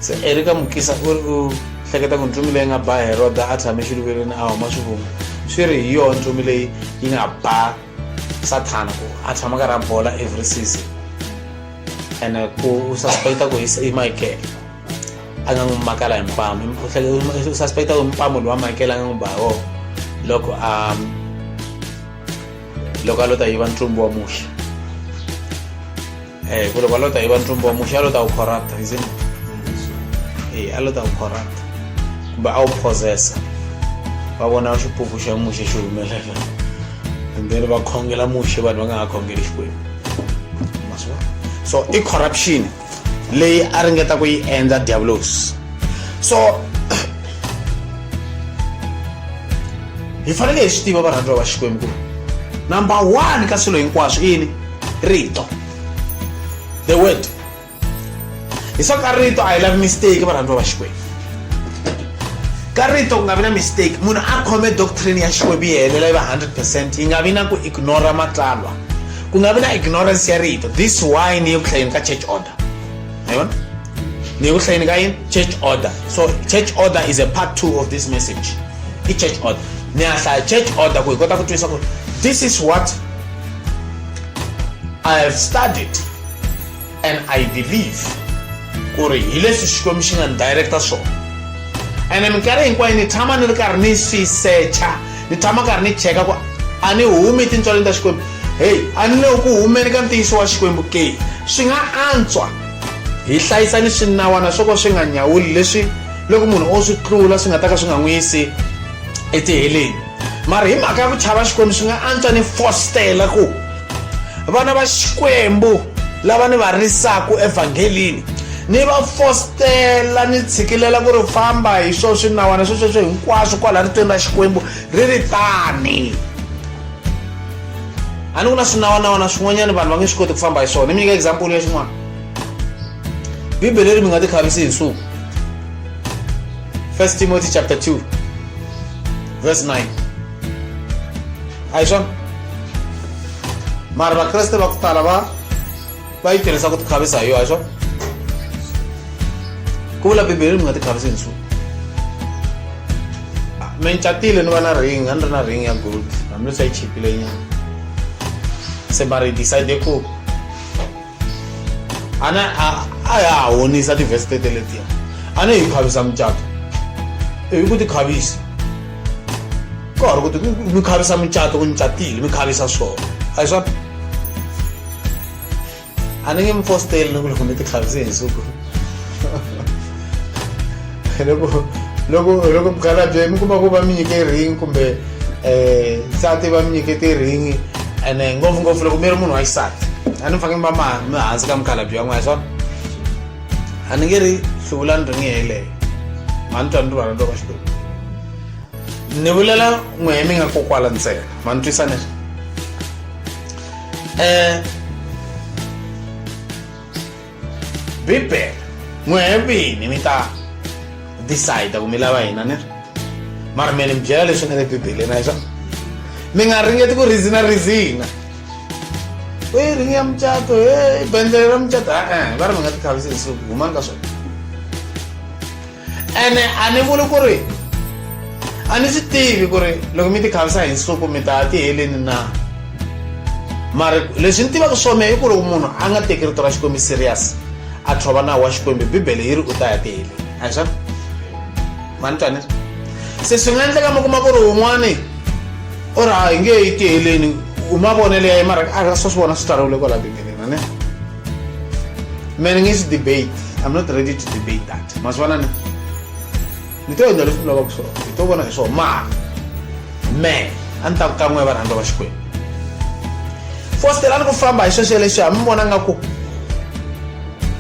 se erika mukisa u ri u hleketa ku ntomi leyi nga ba heroda a tshame xiluvelweni a huma swivongo swi ri hi yona ntomi leyi yi nga ba sathana ku a tshama ka ra bola every season and ku u suspecta ku i michael a nga n'wi makala hi mpamu u suspecta ku mpamu lowa michael a nga n'wi ba wo loko a loko a lo ta yiva ntlumbu wa muxe Eh, kule kwa lota iba ntumbo omusha lota ukhorapta isn't it? Eh, alota ukhorapta kumbe a wu phozesa va vona xipuku xa muxe xi humelela and then va khongela muxe vanhu va nga ha khongeli xikwembu Ma swi vona? so i corruption leyi a ringeta ku yi endla diabolos so hi fanele hi swi tiva varhandziwa va xikwembu ku number one ka swilo hinkwaswo i yini rito the word hi swa ka rito a hi lavi mistake varhandziwa va xikwembu ka rito ku nga vi na mistake munhu a khome doctrine ya xikwembu yi helela yi va 100 percent yi nga vi na ku ignora matsalwa ku nga vi na ignorance ya rito this why ni ye ku hlayeni ka church order hi vona ni ye ku hlayeni ka yini church order so church order is a part two of this message i church order ni ya hlaya church order ku hi kota ku twisa ku this is what I have studied and I believe ku ri hi leswi xikwembu xi nga ni director swona ene minkarhi hinkwayo ni tshama ni ri karhi ni swi secha ni tshama karhi ni cheka ku a ni humi tintswaleni ta xikwembu heyi a ni le ku humeni ka ntiyiso wa xikwembu ke swi nga antswa hi hlayisa ni swinawana swo ka swi nga nyawuli leswi loko munhu o swi tlula swi nga ta ka swi nga n'wi yisi etiheleni mara hi mhaka ya ku chava xikwembu swi nga antswa ni fostela ku vana va xikwembu lava ni va risaku evhangelini ni va fostela ni tshikilela ku ri famba hi swo swinawana swo sweswo hinkwaswo kwala ritweni ra xikwembu ri ri tani a ni ku na swinawanawana swin'wanyana vanhu va nge swi koti ku famba hi swona ni mi nyika example ya xin'wana bibele leri mi nga ti khavisi hi nsuku First Timothy chapter 2, verse 9. Aisha, mara vakreste va ku tala va va yi tirhisa ku tikhavisa hi yo aisha ku vula bibele mi nga tikhavisi nchumu mi ni catile ni va na ring a ni ri na ring ya gold hambileswi a yi chipile nyana se mara yi decide ku a na a ya ha honisa tivhesi tete letiya a ne hi khavisa mucato ivi ku ti khavisa ku ha ri ku ti mi khavisa mucato ku ni catile mi khavisa swona a hi swona a ni nge mi fosteli ni ku loko mi ti khavise hi nsuku loko loko loko mukhalabye mi kuma ku va mi nyike ring kumbe um nsati va mi nyike ti-ring and ngopfungopfu loko mi ri munhu wa xisati a ni fange mi va mi hansi ka mukhalabye wan'we hi swona a ni nge ri hluvulani ring yeleyo ma ni twa ni rivana loko xikwembu ni vulela n'wehe mi nga kokwala ntsena ma ni twisa ni um bibele n'wehe vini mi ta decide ku mi lava hina ni ri mara mi ni mi byela leswi nga le bibeleni a hi swona mi nga ringeti ku rizina rizina we ring ya mucato he bendlele ra mucato e-e va ri mi nga tikhavisi hi siku humani ka swona ene a ni vuli ku ri a ni swi tivi ku ri loko mi ti khavisa hi nsuku mi ta ti heleni na mara leswi ni tivaka swona i ku loko munhu a nga teki rito ra xikwembu serious a tlhova nawu wa xikwembu bibele yi ri u ta ya ti heleni a hi swona mani twanisa se swi nga endleka mi kuma ku ri wun'wani u ri a hi nge yi ti heleni u mavonelo ya ye mara a swo swi vona swi tsariwile kwala bibeleni a ne mina ngisi debate i'm not ready to debate that masivona ni ni to endla leswi ni lavaka swona ni to vona hi swona mara me a ni ta ku kan'we varhandza va xikwembu fostelani ku famba hi sweswo leswi ha mi vona nga ku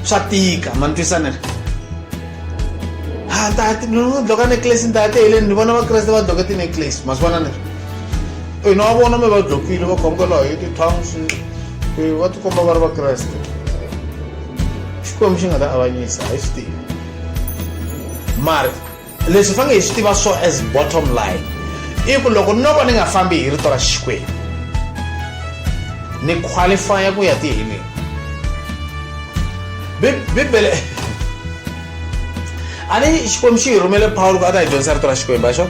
swa tika ma ni twisana ri ha ta loko a necklace ni ta ya teheleni ni vona vakreste va doke tineclace ma swi vona ni ri ina va vona mi va dlokile va khomka laha hi ti-towns va tikomba va ri vakreste xikwembu xi nga ta avanyisa hi swi tivi mari leswi fange hi swi tiva so as bottom line i ku loko no va ni nga fambi hi rito ra xikwembu ni qualifya ku ya tiheleni bibele a ni xikwembu xi hi rhumele pawulo ku a ta hi dyondzisa rito ra xikwembu a xo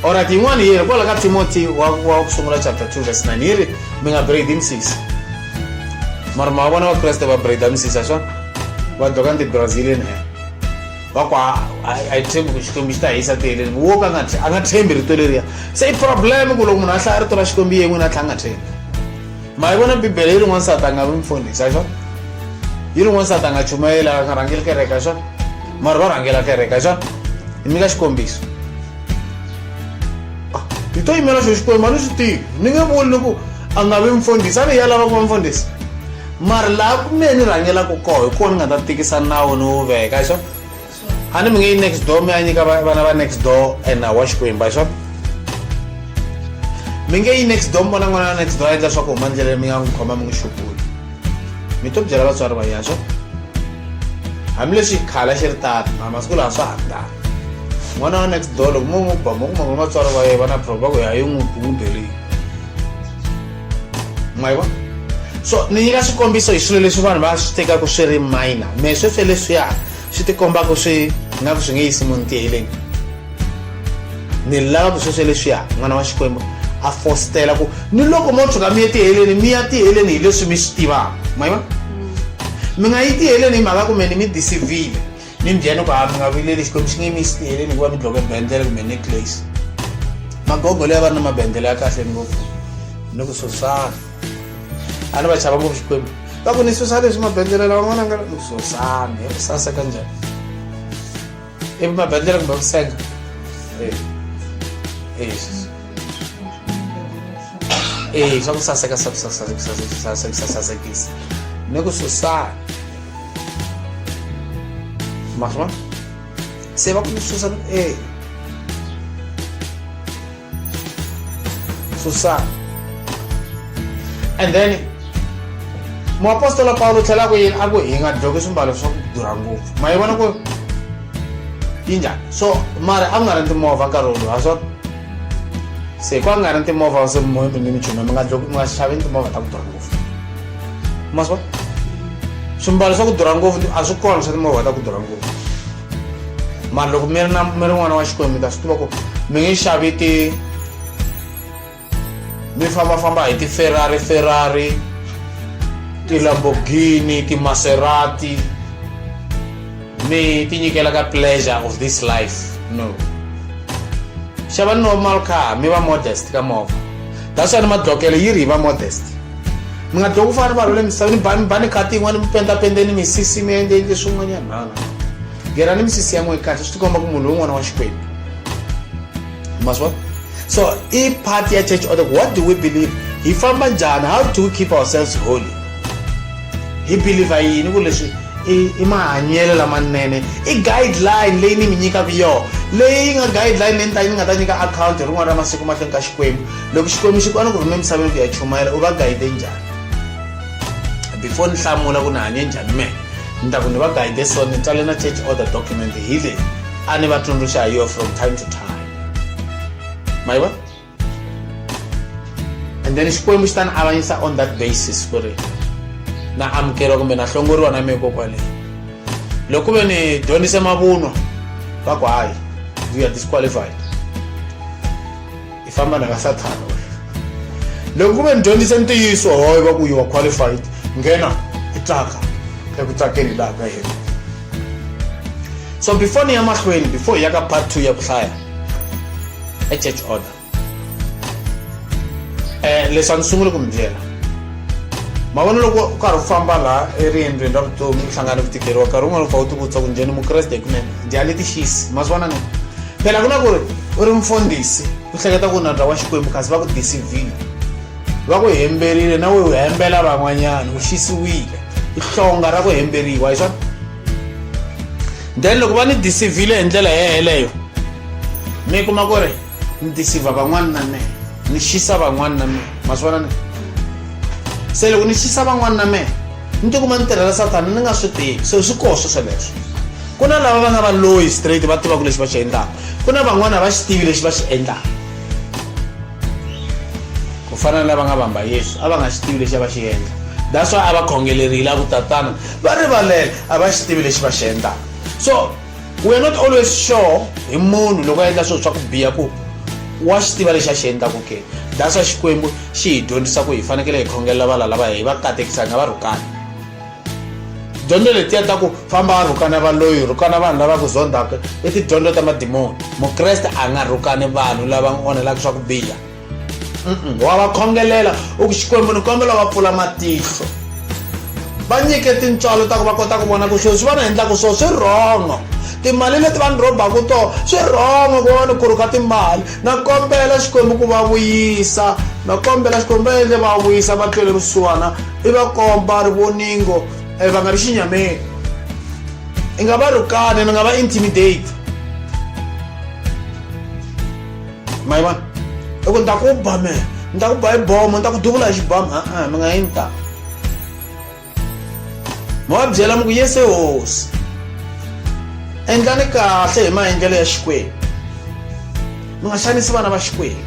Alright, yin'wana yi ri kwala ka Timothy wa wa ku sungula chapter 2 verse 9 yi ri mi nga braid misisi. Mara ma vona va Kreste va braid misisi swa va doka ndi Brazilian hair. Va ku a a tshembi ku xikwembu xi ta hisa tiheleni wo ka nga a nga tshembi rito leriya. Se i problem ku loko munhu a hlaya rito ra xikwembu yin'we na tlhanga tshembi. ma yi vona bibele yi ri n'wansati a nga vi mfundhisi a xona yi ri n'wansati a nga chumayeli a nga rhangeli kereke a xona mara va rhangela kereke a xona hi nyika xikombiso ah, hi to yimela xo xikwembu a ni swi tivi ni nge vuli ni ku a nga vi mfundhisi a ni ya lava ku va mfundhisi mara laha ku mehe ni rhangelaka koho hi kona ni nga ta tikisa nawu ni wu veka xona a ni mi nge yi next door mi ya nyika vana va next door and awa xikwembu xo mi nge yi next door mi vona n'wana wa next door a endla swa ku huma ndleleni mi nga n'wi khoma mi n'wi xupuli mi to byela vatswari va yena xo hambileswi khala xi ri tata ma masiku lawa swa ha ri tata n'wana wa next door loko mo n'wi ba mo kuma ku vatswari va yena va na proba ku ya yi n'wi bundheleyi ma yi vona so ni nyika swikombiso hi swilo leswi vanhu va swi tekaka swi ri minor me sweswi leswiya swi ti komba ku swi nga ku swi nge yisi munhu tiheleni ni lava ku sweswe leswiya n'wana wa xikwembu a fositela ku ni loko mo tshuka mi ye tiheleni mi ya tiheleni hi leswi mi swi tivaka ma yiva mi nga yi tiheleni hi mhaka kumbe ni mi disivile ni mbyeni ku ha mi nga vileli xikwembu xi nge mi xi tiheleni hikuva mi dloke bendele kumbe neclace magogo leyi va ri na mabendele ya kahle ngopfu ni ku sosana ani va chava ngopfu xikwembu va ku ni susa leswi mabendlela lawa n'wana nga susana ya ku saseka njhani ivi mabendlela kumbe ku senga e swa ku saseka swa ku sasekisa ni ku susana maswa se va ku ni susa e So sad. And then muapostola Paulo tlhela ku yini a ku hi nga dloki swimbalo swa ku durha ngopfu ma yi vona ku yi njhani so mara a ku nga ri timovha nkarhi wolowo ha swa se ku a ku nga ri timovha se mi ni michumi mi nga dloki mi nga xaveni timovha ta ku durha ngopfu ma swi vona swimbalo swa ku durha ngopfu a swi kona swa timovha ta ku durha ngopfu mara loko mi ri na mi ri n'wana wa xikwembu mi ta swi tiva ku mi nge xavi ti mi fambafamba hi ti-ferrari ferrari ti-lamborghini ti-maserati mi tinyikela ka pleasure of this life no xavani normal car mi va modest ka movha that's why ni madlokelo yi ri hi va modest mi nga dloki ku fana ni vanhu le misaveni ba ba ni kati yin'wana mi pendapendeni misisi mi endleni leswin'wanyana nana ngena ni misisi ya n'we kahle swi tikomba ku munhu un'wana wa xikwembu maswa so i part ya church order what do we believe hi famba njhani how do we keep ourselves holy hi believer yini ku leswi i i mahanyelo lamanene i guideline leyi ni mi nyikaka yona leyi nga guideline leyi ni ta ni nga ta nyika akhawunti hi rin'wana ra masiku mahlweni ka xikwembu loko xikwembu xi kwana ku rhume emisaveni ku ya chumayela u va guide njhani before ni hlamula ku ni hanye njhani mehe ni ta ku ni va guide so ni tswale na church order document hi leyi a ni va tsundzuxa hi yona from time to time ma yi vona and then xikwembu xi ta ni avanyisa on that basis ku ri na amukeriwa kumbe na hlongoriwa na meko kwaleyo loko ku ve ni dyondzise mavunwa va ku hayi you are disqualified i famba na ka sathana loko ku ve ni dyondzise ntiyiso hoyo va ku you are qualified nghena i tsaka eku tsakeni laha ka yena so before ni ya mahlweni before hi ya ka part two ya ku hlaya a church order um leswi a ni sunguli ku mi byela ma vona loko u karhi u famba laha eriendzweni ra vutomi u hlangana ku tikeriwa nkarhi wun'wana u fa u tivutisa ku njhani mukreste hikunene njhani tixisi ma swi vona ni phela ku na ku ri u ri mfundhisi u hleketa ku nandza wa xikwembu kasi va ku disivile va ku hemberile na we u hembela van'wanyana u xisiwile i hlonga ra ku hemberiwa hi swona then loko va ni disivhile hi ndlela yeleyo mi kuma ku ri ni disivha van'wana na mehe ni xisa van'wana na mehe ma swi vona ni se loko ni xisa van'wana na mehe ni tikuma ni tirhela sathana ni nga swi tivi se swi koho swo sweleswo ku na lava va nga va loyi straight va tivaka lexi va xi endlaka ku na van'wana a va xi tivi lexi va xi endlaka ku fana na lava nga vamba yesu a va nga xi tivi lexi a va xi endla that's why a va khongelerile a ku tatana va rivalela a va xi tivi lexi va xi endlaka so we're not always sure hi munhu loko a endla swilo swa ku biha ku wa xi tiva lexi a xi endlaku ke that's why xikwembu xi hi dyondzisa ku hi fanekele hi khongelela valala va hi va katekisani a va rhukani dyondzo letiya ta ku famba va rhukana valoyi rhukana vanhu lava ku zondzaka i tidyondzo ta madimoni mukreste a nga rhukani vanhu lava n'wi onhelaka swa ku biha wa va khongelela u ku xikwembu ni kombela va pfula matihlo va nyike tintswalo ta ku va kota ku vona ku swilo swi va ni endlaka swo swi rhongo timali leti va ni rhobaka to swi rhongo ku va ni khuruka timali na kombela xikwembu ku va vuyisa na kombela xikwembu va endle va vuyisa va tlwele vusiwana i va komba ri voningo eh, va nga ri xinyameni i nga va rukani ni nga va intimidate ma yi vona i ku ni ta ku ba me ni ta ku ba hi bomo ni ta ku duvula hi xibamu a-a mi nga yini ta mi va byela mi ku yese hosi endlani kahle hi maendlelo ya xikwembu mi nga xanisi vana va xikwembu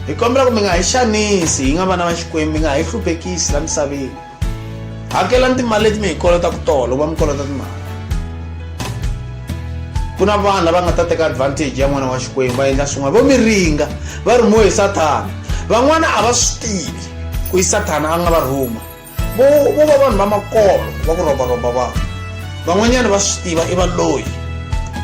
hi kombela ku mi nga hi xanisi hi nga vana va xikwembu mi nga hi hluphekisi la misaveni hakelani timali leti mi hi kolotaka tolo va mi kolota timali ku na vanhu lava nga ta teka advantage ya n'wana wa xikwembu va endla swin'wana vo mi ringa va rhumiwe hi sathana van'wana a va swi tivi ku yi sathana a nga va rhuma vo vo va vanhu va makolo va ku rombaromba vanhu van'wanyana va swi tiva i valoyi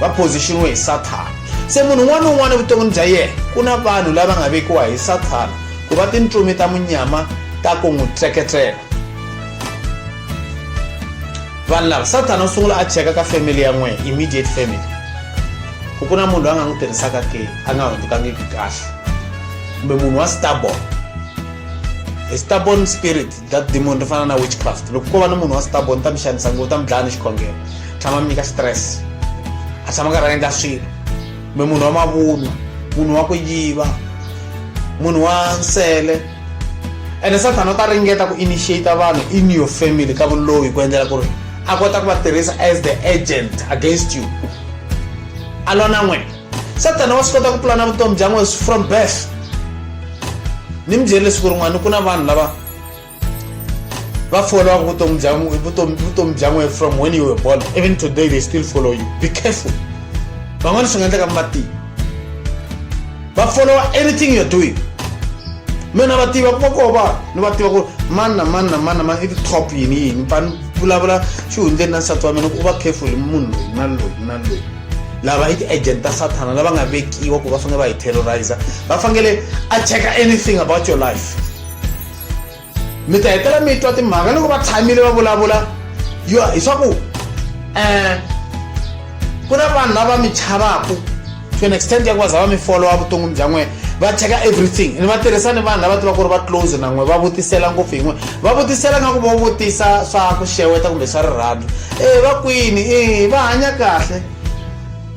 va positionwe hi sathana se munhu un'wana na un'wana evuton'wini bya yena ku na vanhu lava nga vekiwa hi sathana ku va tintsumi ta munyama ta ku n'wi tseketsela vanhu lava sathana u sungula a cheka ka family ya n'wina immediate family ku ku na munhu loyi a nga n'wi tirhisaka ke a nga hundzukangiki kahle kumbe munhu wa starborn stubborn spirit that demon ri fana na witchcraft loko ko va na munhu wa stubborn ta mi xanisa ngo ta mi dlaya ni xikhongelo tshama mi nyika stress a tshama karhi a endla swilo kumbe munhu wa mavunwa munhu wa ku yiva munhu wa nsele ene sathana u ta ringeta ku initiate vanhu in your family ka vuloyi ku endlela ku ri a kota ku va tirhisa as the agent against you a lona n'wena satana wa swi kota ku pulana vutomi bya n'wesi from birth ni mi byele siku rin'wana ku na vanhu lava va followaka vutomi bya vutomi bya n'we from when you were born even today they still follow you be careful van'wana swi nga endleka mi va tivi va followa anything you're doing mina va tiva ku va koo vanhu ni va tiva ku mani na mani na mani na mani i ti-top yini yini va ni vulavula xihundleni na nsati wa mina ku u va careful munhu loyi na loyi na loyi lava i ti-agent ta sathana lava nga vekiwa ku va fanele va hi terrorizer va fanele a checka anything about your life mi ta hetela mi twa timhaka loko va tshamile va vulavula yo hi swa ku um ku na vanhu lava mi chavaku to an extent ya ku va za va mi followa vuton'wini bya n'wena va cheka everything ni va tirhisa ni vanhu lava tivaka ku ri va close na n'we va vutisela ngopfu yin'we va vutisela nga ku vo vutisa swa ku xeweta kumbe swa rirhandzu e va kwini e va hanya kahle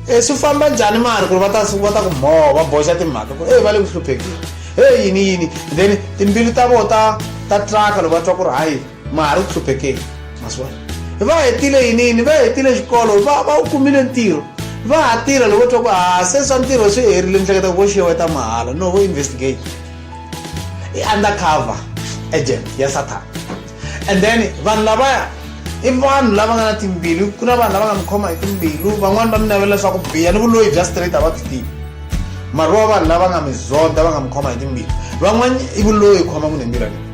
e swi famba njhani mari ku ri va ta va ta ku mhoho va boxa timhaka ku ri e va le ku hluphekeni he yini yini then timbilu ta vo ta ta traka loko va twa ku ri hayi mara u hluphekeli maswona va hetile yinini va hetile xikolo va va u kumile ntirho va ha tirha loko twa ku ha ah, se swa ntirho swi herile ni hleketa ku vo xiyewa ta mahala no vo investigate i undercover agent ya satan and then vanhu lavaya i vanhu lava nga na timbilu ku na vanhu lava nga mi khoma hi timbilu van'wani va mi navela leswaku biya ni vuloyi bya straight a va byi tivi mari wa vanhu lava nga mi zonda va nga mi khoma hi timbilu van'wani i vuloyi khoma munhu hi mbirha leyi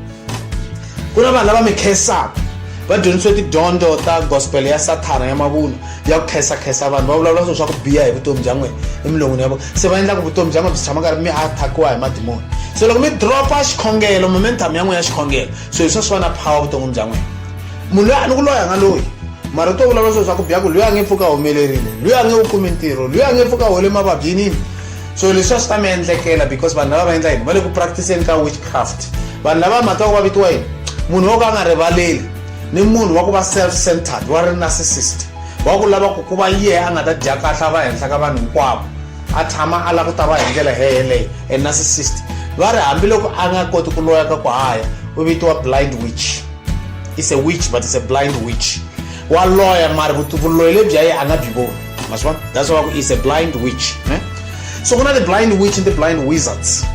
ku na vanhu lava mi khensaka va dyondzisiwe tidyondzo ta gospel ya sathana ya mavunwa ya ku khensakhensa vanhu va vulavula swilo swa ku biha hi vutomi bya n'wina emilon'wini ya vona se va endla ku vutomi bya n'wina byi tshama karhi mi attackiwa hi madimoni se loko mi dropa xikhongelo momentum ya n'wina ya xikhongelo so hi swa swi va na power vuton'wini bya n'wina munhu loyi a ni ku loyi a nga loyi mara to vulavula swilo swa ku biha ku loyi a nge pfuka humelerile loyi a nge wu kumi ntirho loyi a nge pfuka hole mavabyinini so leswi a swi ta mi endlekela because vanhu lava va endla yini va le ku practiceni ka witchcraft vanhu lava mhaka ku va vitiwa yini munhu wo ka a nga rivaleli ni munhu wa ku va self centered wa ri narcissist wa ku lava ku ku va yehe a nga ta dya kahla va henhla ka vanhu hinkwavo a tshama a lava ku ta va hi ndlela heyeleyo e narcissist va ri hambiloko a nga koti ku loya ka ku haya u vitiwa blind witch is a witch but is a blind witch wa loya mari vuloyi lebyi ya ye a nga byi voni maswa that's why is a blind witch ne so ku na the blind witch and the blind wizards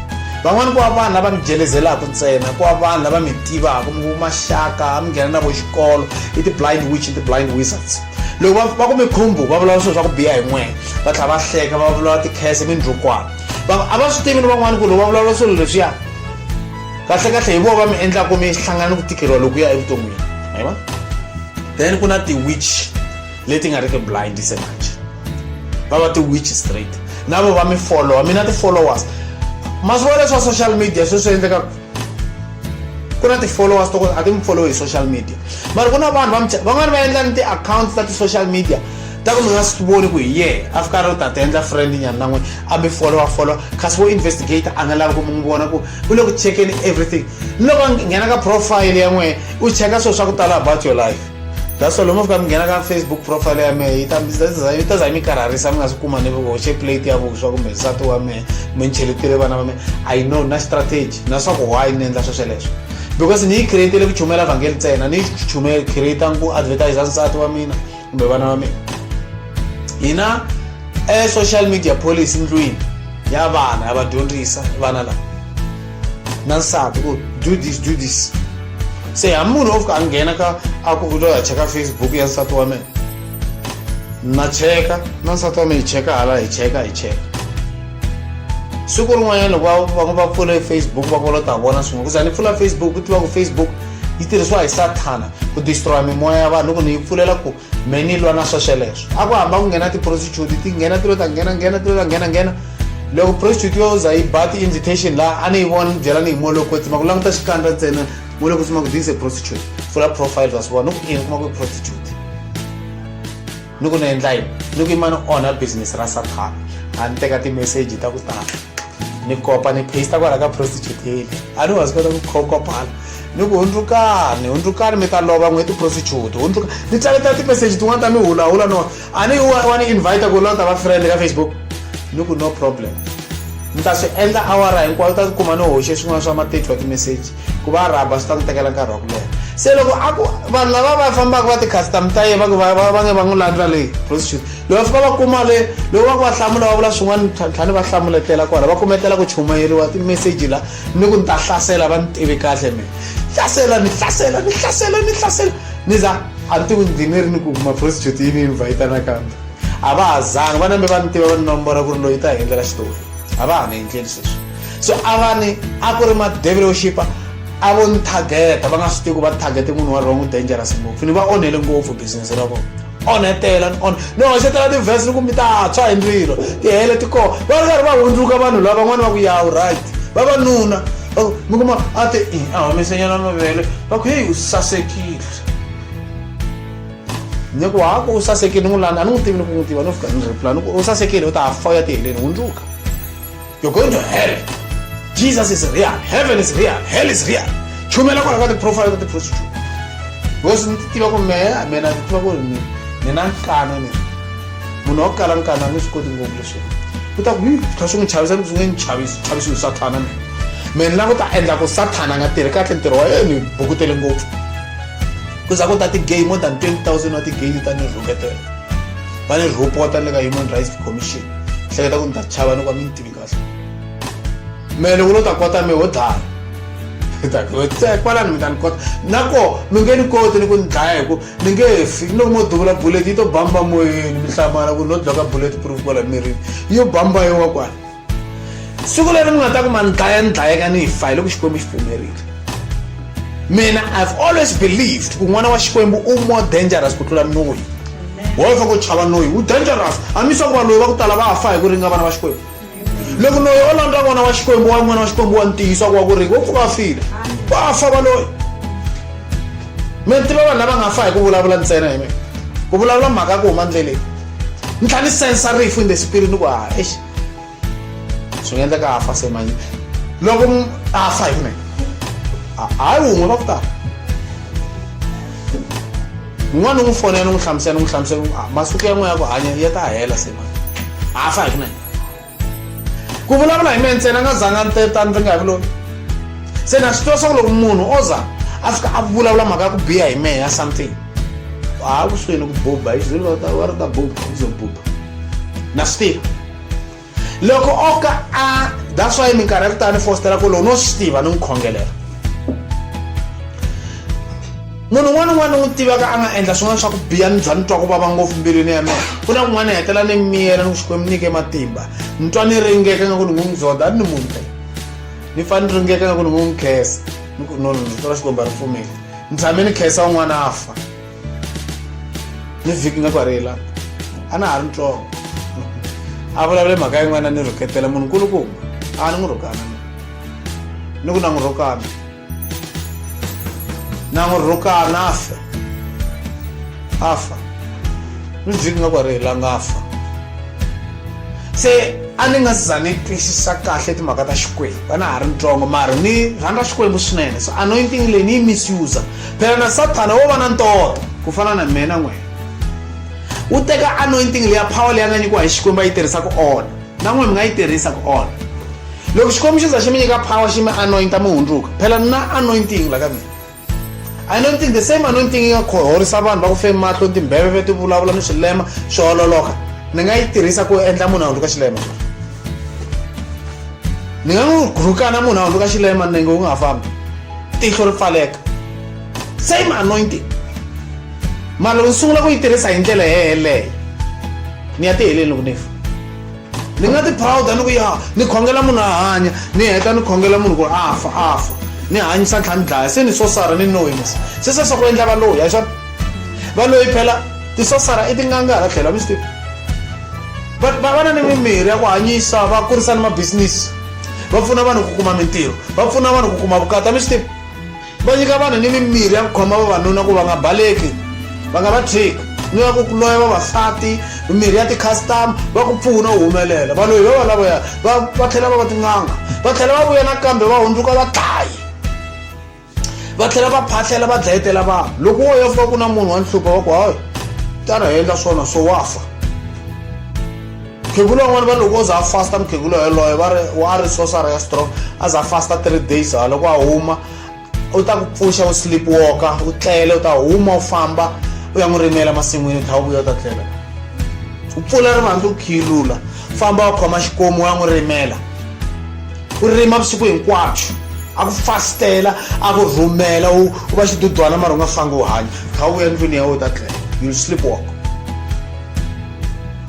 van'wani ku va vanhu lava mi jelezelaka ntsena ku va vanhu lava mi tivaka mi ku maxaka mi nghena na vo xikolo i ti-blind witch and ti-blind wizards loko va ku mi khumbu va vulavula swilo swa ku biha hi n'wena va tlhela va hleka va vulavula tikhese mindlukwana a va swi tivi ni van'wani ku loko va vulavula swilo leswiya kahlekahle hi vona va mi endlaka mi hlangana ni ku tikeriwa lokuya evuton'wini ayiwa then ku na ti-witch leti nga ri ki blind se manje va va ti-witch straight na vo va mi followa mina ti-followers masiku ya leswa social media swi swi endleka ku na ti-followers to a ti mi follow hi social media mara ku na vanhu va van'wani va endla ni ti-accounts ta ti-social media ta ku mi nga swi voni ku hi yee a fika ri u ta ti endla friend nyana na n'wini a mi followa followa kasi wo investigator a nga lavi ku mi n'wi vona ku u le ku checkeni everything ni loko nghena ka profile ya n'wina u cheka swilo swa ku tala about your life that's all mofika mi nghena ka facebook profile ya mehe yi ta za yi mi karharisa mi nga swi kuma ni hoxe plate ya vuswa kumbe nsati wa mehe mi ni cheletile vana va mehe i know na strategy na swa ku why ni endla swo sweleswo because ni yi createle ku chumela vhangeli ntsena ni chume creata ku advertise nsati wa mina kumbe vana va mina hina e social media policy ndlwini ya vana ya va dyondzisa vana lava na nsati ku do this do this se ha munhu o fika a nghena ka a ku kuto ya cheka facebook ya nsati wa mina na cheka na nsati wa mina hi cheka hala hi cheka hi cheka siku rin'wanyana loko va va pfule facebook va kolo ta vona swin'we kuza ni pfula facebook ku tiva ku facebook yi tirhisiwa hi sathana ku destroya mimoya ya vanhu loko ni yi pfulela ku me ni lwa na swa sweleswo a ku hamba ku nghena ti-prostitute ti nghena ti lo ta nghena nghena ti lo ta nghena nghena loko prostitute yo za yi ba ti-invitation laha a ni yi vona ni byela ni hi molo kwetsima ku languta xikandza ntsena molo kwetsima ku this a prostitute pfula profile wa swi vona ni ku ini kuma ku i prostitute ni ku ni endla yini ni ku yima ni onha business ra sathana a ni teka ti-message ta ku tala ni kopa ni paste kwala ka prostitute yeli a ni wa swi kota ku kopala ni ku hundzukani hundzukani mi ta lova n'we tiprostitute hundzuka ni tsaletela timeseji tin'wana ta mi hulahula no a ni wa ni invita ku lota va friend ka facebook ni ku no problem ni ta swi endla awara hinkwayo ta tikuma ni hoxe swin'wana swa matitlo ya timeseji ku va rhaba swi ta ni tekela nkarhi wa ku leha se loko a ku vanhu lava va fambaka va ti-custom ta yena va ku va nge va n'wi landza leyi prostitute loko fika va kuma le loko va ku va hlamula va vula swin'wana tlhani va hlamuletela kwala va kumetela ku chumayeriwa timeseji la ni ku ni ta hlasela va ni tivi kahle mina hlasela ni hlasela ni hlasela ni hlasela ni za a ni tivi ndzi ni ri ni ku maprostitute yi ni invhayita nakambe a va ha zangi va nambe va ni tiva va ni nombora ku ri loyi ta hi endlela xitori a va ha ni endleli sweswi so a va ni a ku ri madevelo xipa a vo ni targeta va nga swi tivi ku va targete munhu wa wrong dangerous ngopfu ni va onhele ngopfu business ra vona onhetela ni on ni hoxetela tivhesi ni ku mi ta tshwa hi ndzilo ti hele ti kona va ri karhi va hundzuka vanhu lava van'wana va ku yawu right vavanuna oh, mi kuma a ti i a humesenyana mavele va ku heyi u sasekile ni ku haku u sasekile ni n'wi lani a ni n'wi tivi ni ku n'wi tiva no fika ni reply ni ku u sasekile u ta fa u ya ti heleni hundzuka you're going to hell jesus is real heaven is real hell is real chumela kwala ka tiprofile ka tiprostitute because ni tiva ku mehe mina ni tiva ku ri ni ni na nkana ni munhu wa ku kala nkana ni swi koti ngopfu leswi ku ta ku kha swi n'wi chavisa ni swi nge ni chavisi chavisi ni sathana ni me ni la ku ta endla ku sathana a nga tirhi kahle ntirho wa yena ni bukutele ngopfu ku za ku ta ti-gay more than twenty thousand wa ti-gay ta ni rhuketela va ni rhopota ni le ka human rights commission hleketa ku ni ta chava ni ku va mi ni tivi kahle me loko lo ta kota mi ho dlaya kwalani mi ta ni kota nako mi nge ni koti ni ku ni dlaya hi ku mi nge fi ni loko mo duvula bullet yi to bamba moyeni mi hlamala ku no dlaka bullet proof kwala mirini yo bamba yowa kwala siku leri mi nga ta ku ma ni dlaya ni dlayeka ni fa hi loko xikwembu xi pfumerile mina i've always believed ku n'wana wa xikwembu u more dangerous ku tlula noyi woye fa ku chava noyi wu dangerous hambi swa ku va loyi va ku tala va fa hi ku ringa vana va xikwembu loko noyi o landza n'wana wa xikwembu wa n'wana wa xikwembu wa ntiyiso ku wa ku ringa wo pfuka file wa fa va loyi mi tiva vanhu lava nga fa hi ku vulavula ntsena hi mina ku vulavula mhaka ya ku huma ndleleni ni tlhela ni sensa rifu in the spirit ni ku ha exi swi nga endleka a fa se manye loko a fa hi mina hayi wun'we va ku tala un'wana ni n'wi fonela ni n'wi hlamusela ni n'wi hlamusela ah, masiku ya n'we ya ku hanya ya ta hela se manye a fa hi mina ku vulavula hi mina ntsena nga zanga ni teta ni ringa hi vulomi se na swi tiva swa ku loko munhu o za a fika a vulavula mhaka ya ku biha hi mehe ya something a ku swini ku buba hi xizulu va ri ta buba ku zo buba na swi tiva loko o ka a that's why minkarhi ya ku tani fostela ku lowu no swi tiva ni n'wi khongelela munhu un'wana un'wana n'wi tivaka a nga endla swin'wana swa ku biha ni bya ni twa ku vava ngopfu mbilwini ya mina ku na kun'wana hetela ni miyela ni ku xikwembu nyike matimba ni twa ni ringeka nga ku ni n'wi n'wi dzoda a ni ni munhu phela ni fane ni ringeka nga ku ni n'wi n'wi khesa ni ku no no ni tola xikwembu a ri pfumeli ni tshame ni khesa un'wana a fa ni vhiki nga ku a ri la a na ha ri ntsongo a vulavule mhaka yin'wana ni rhuketela munhu nkulukumba a ni n'wi rhukana ni ku na n'wi rhukana na n'wi rhukana a fa a fa ni vhiki nga ku a ri la nga fa se a ni nga za ni twisisa kahle timhaka ta xikwembu a na ha ri ntsongo mara ni rhandza xikwembu swinene so anointing leyi ni yi misuse Phela na Sathana wo va na ntoto. Ku fana na mina n'wina. U teka anointing leya power leyi a nga nyikiwa hi Xikwembu a yi tirhisa ku onha. Na n'wina mi nga yi tirhisa ku onha. Loko Xikwembu xi za xi mi nyika power xi mi anointa mi hundzuka. Phela na anointing la ka mina. Anointing the same anointing yi nga khorhorisa vanhu va ku fe mahlo timbheveve ti vulavula ni swilema swi ololoka. Ni nga yi tirhisa ku endla munhu a hundzuka xilema. Ni nga n'wi rhukana munhu a hundzuka xilema nenge wu nga ha fambi. tihlo ri pfaleka same anointing mara loko ni sungula ku yi tirhisa hi ndlela yeleyo ni ya tiheleni loko ni fa ni nga tiphawuda ni ku ya ni khongela munhu a hanya ni heta ni khongela munhu ku a fa a fa ni hanyisa ntlha ni dlaya se ni sosara ni noyisa se sweswo ku endla valoyi a xona valoyi phela tisosara i tinganga hala tlhelo a mi swi tivi va va na ni mimirhi ya ku hanyisa va kurisa ni mabisinisi va pfuna vanhu ku kuma mintirho va pfuna vanhu ku kuma vukata mi swi tiva va nyika vanhu ni mimirhi ya ku khoma vavanuna ku va nga baleki va nga va tshiki ni va ku loya vavasati mimirhi ya ti-custom va ku pfuna u humelela vanhu hi vava lavoya va tlhela va va tin'anga va tlhela va vuya nakambe va hundzuka vadlayi va tlhela va phahlela va dlayetela vanhu loko wo ya fika ku na munhu wa nhlupa wa ku hayi tana hi endla swona so wa fa mukhegula van'wana va loko o za a fasta mukhegula yoloye va ri wa ri sosara ya strong a za a fasta three days ha loko a huma u ta ku pfuxa u sleep walka u tlele u ta huma u famba u ya n'wi rimela masin'wini u tlha u vuya u ta tlela u pfula rivanti u khiyilula famba u khoma xikomu u ya n'wi rimela ku rima vusiku hinkwabyo a ku fastela a ku rhumela u va xidudwana mara u nga fangi u hanya kha u ya ndlwini ya wena u ta tlela you'll sleep walk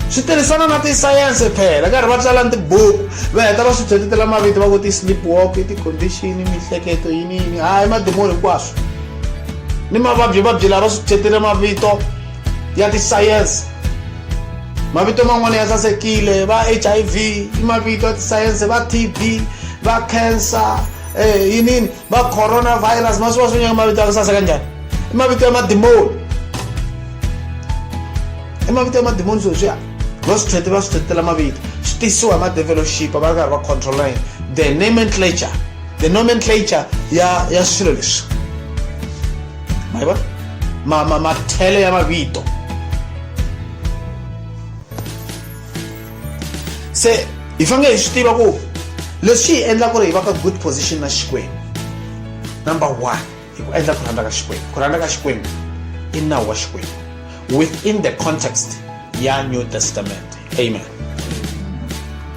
swi tirhisana na tisayense phela karhi va tsala ni tibuku va heta va swi tshetetela mavito va ku ti-sleep walk i ti-condition mihleketo yini yini hayi madimoni hinkwaswo ni mavabyi vabyi lava swi tshetele mavito ya tisayense mavito man'wana ya sasekile va hiv i mavito ya tisayense va tb va cancer eh, yinini va coronavirus ma swi va swi nyanga mavito ya ku saseka njhani i mavito ya madimoni i mavito ya madimoni swo swiya va swi tlhete va swi tlhetela mavito swi tisiwa hi madevelopship va ri karhi va controla yini the nomenclature the nomenclature ya ya swilo leswi ma vona ma ma mathele ya mavito se hi fanele hi swi tiva ku leswi hi endla ku ri hi va ka good position na xikwembu number one hi ku endla ku rhandza ka xikwembu ku rhandza ka xikwembu i nawu wa xikwembu within the context ya new testament amen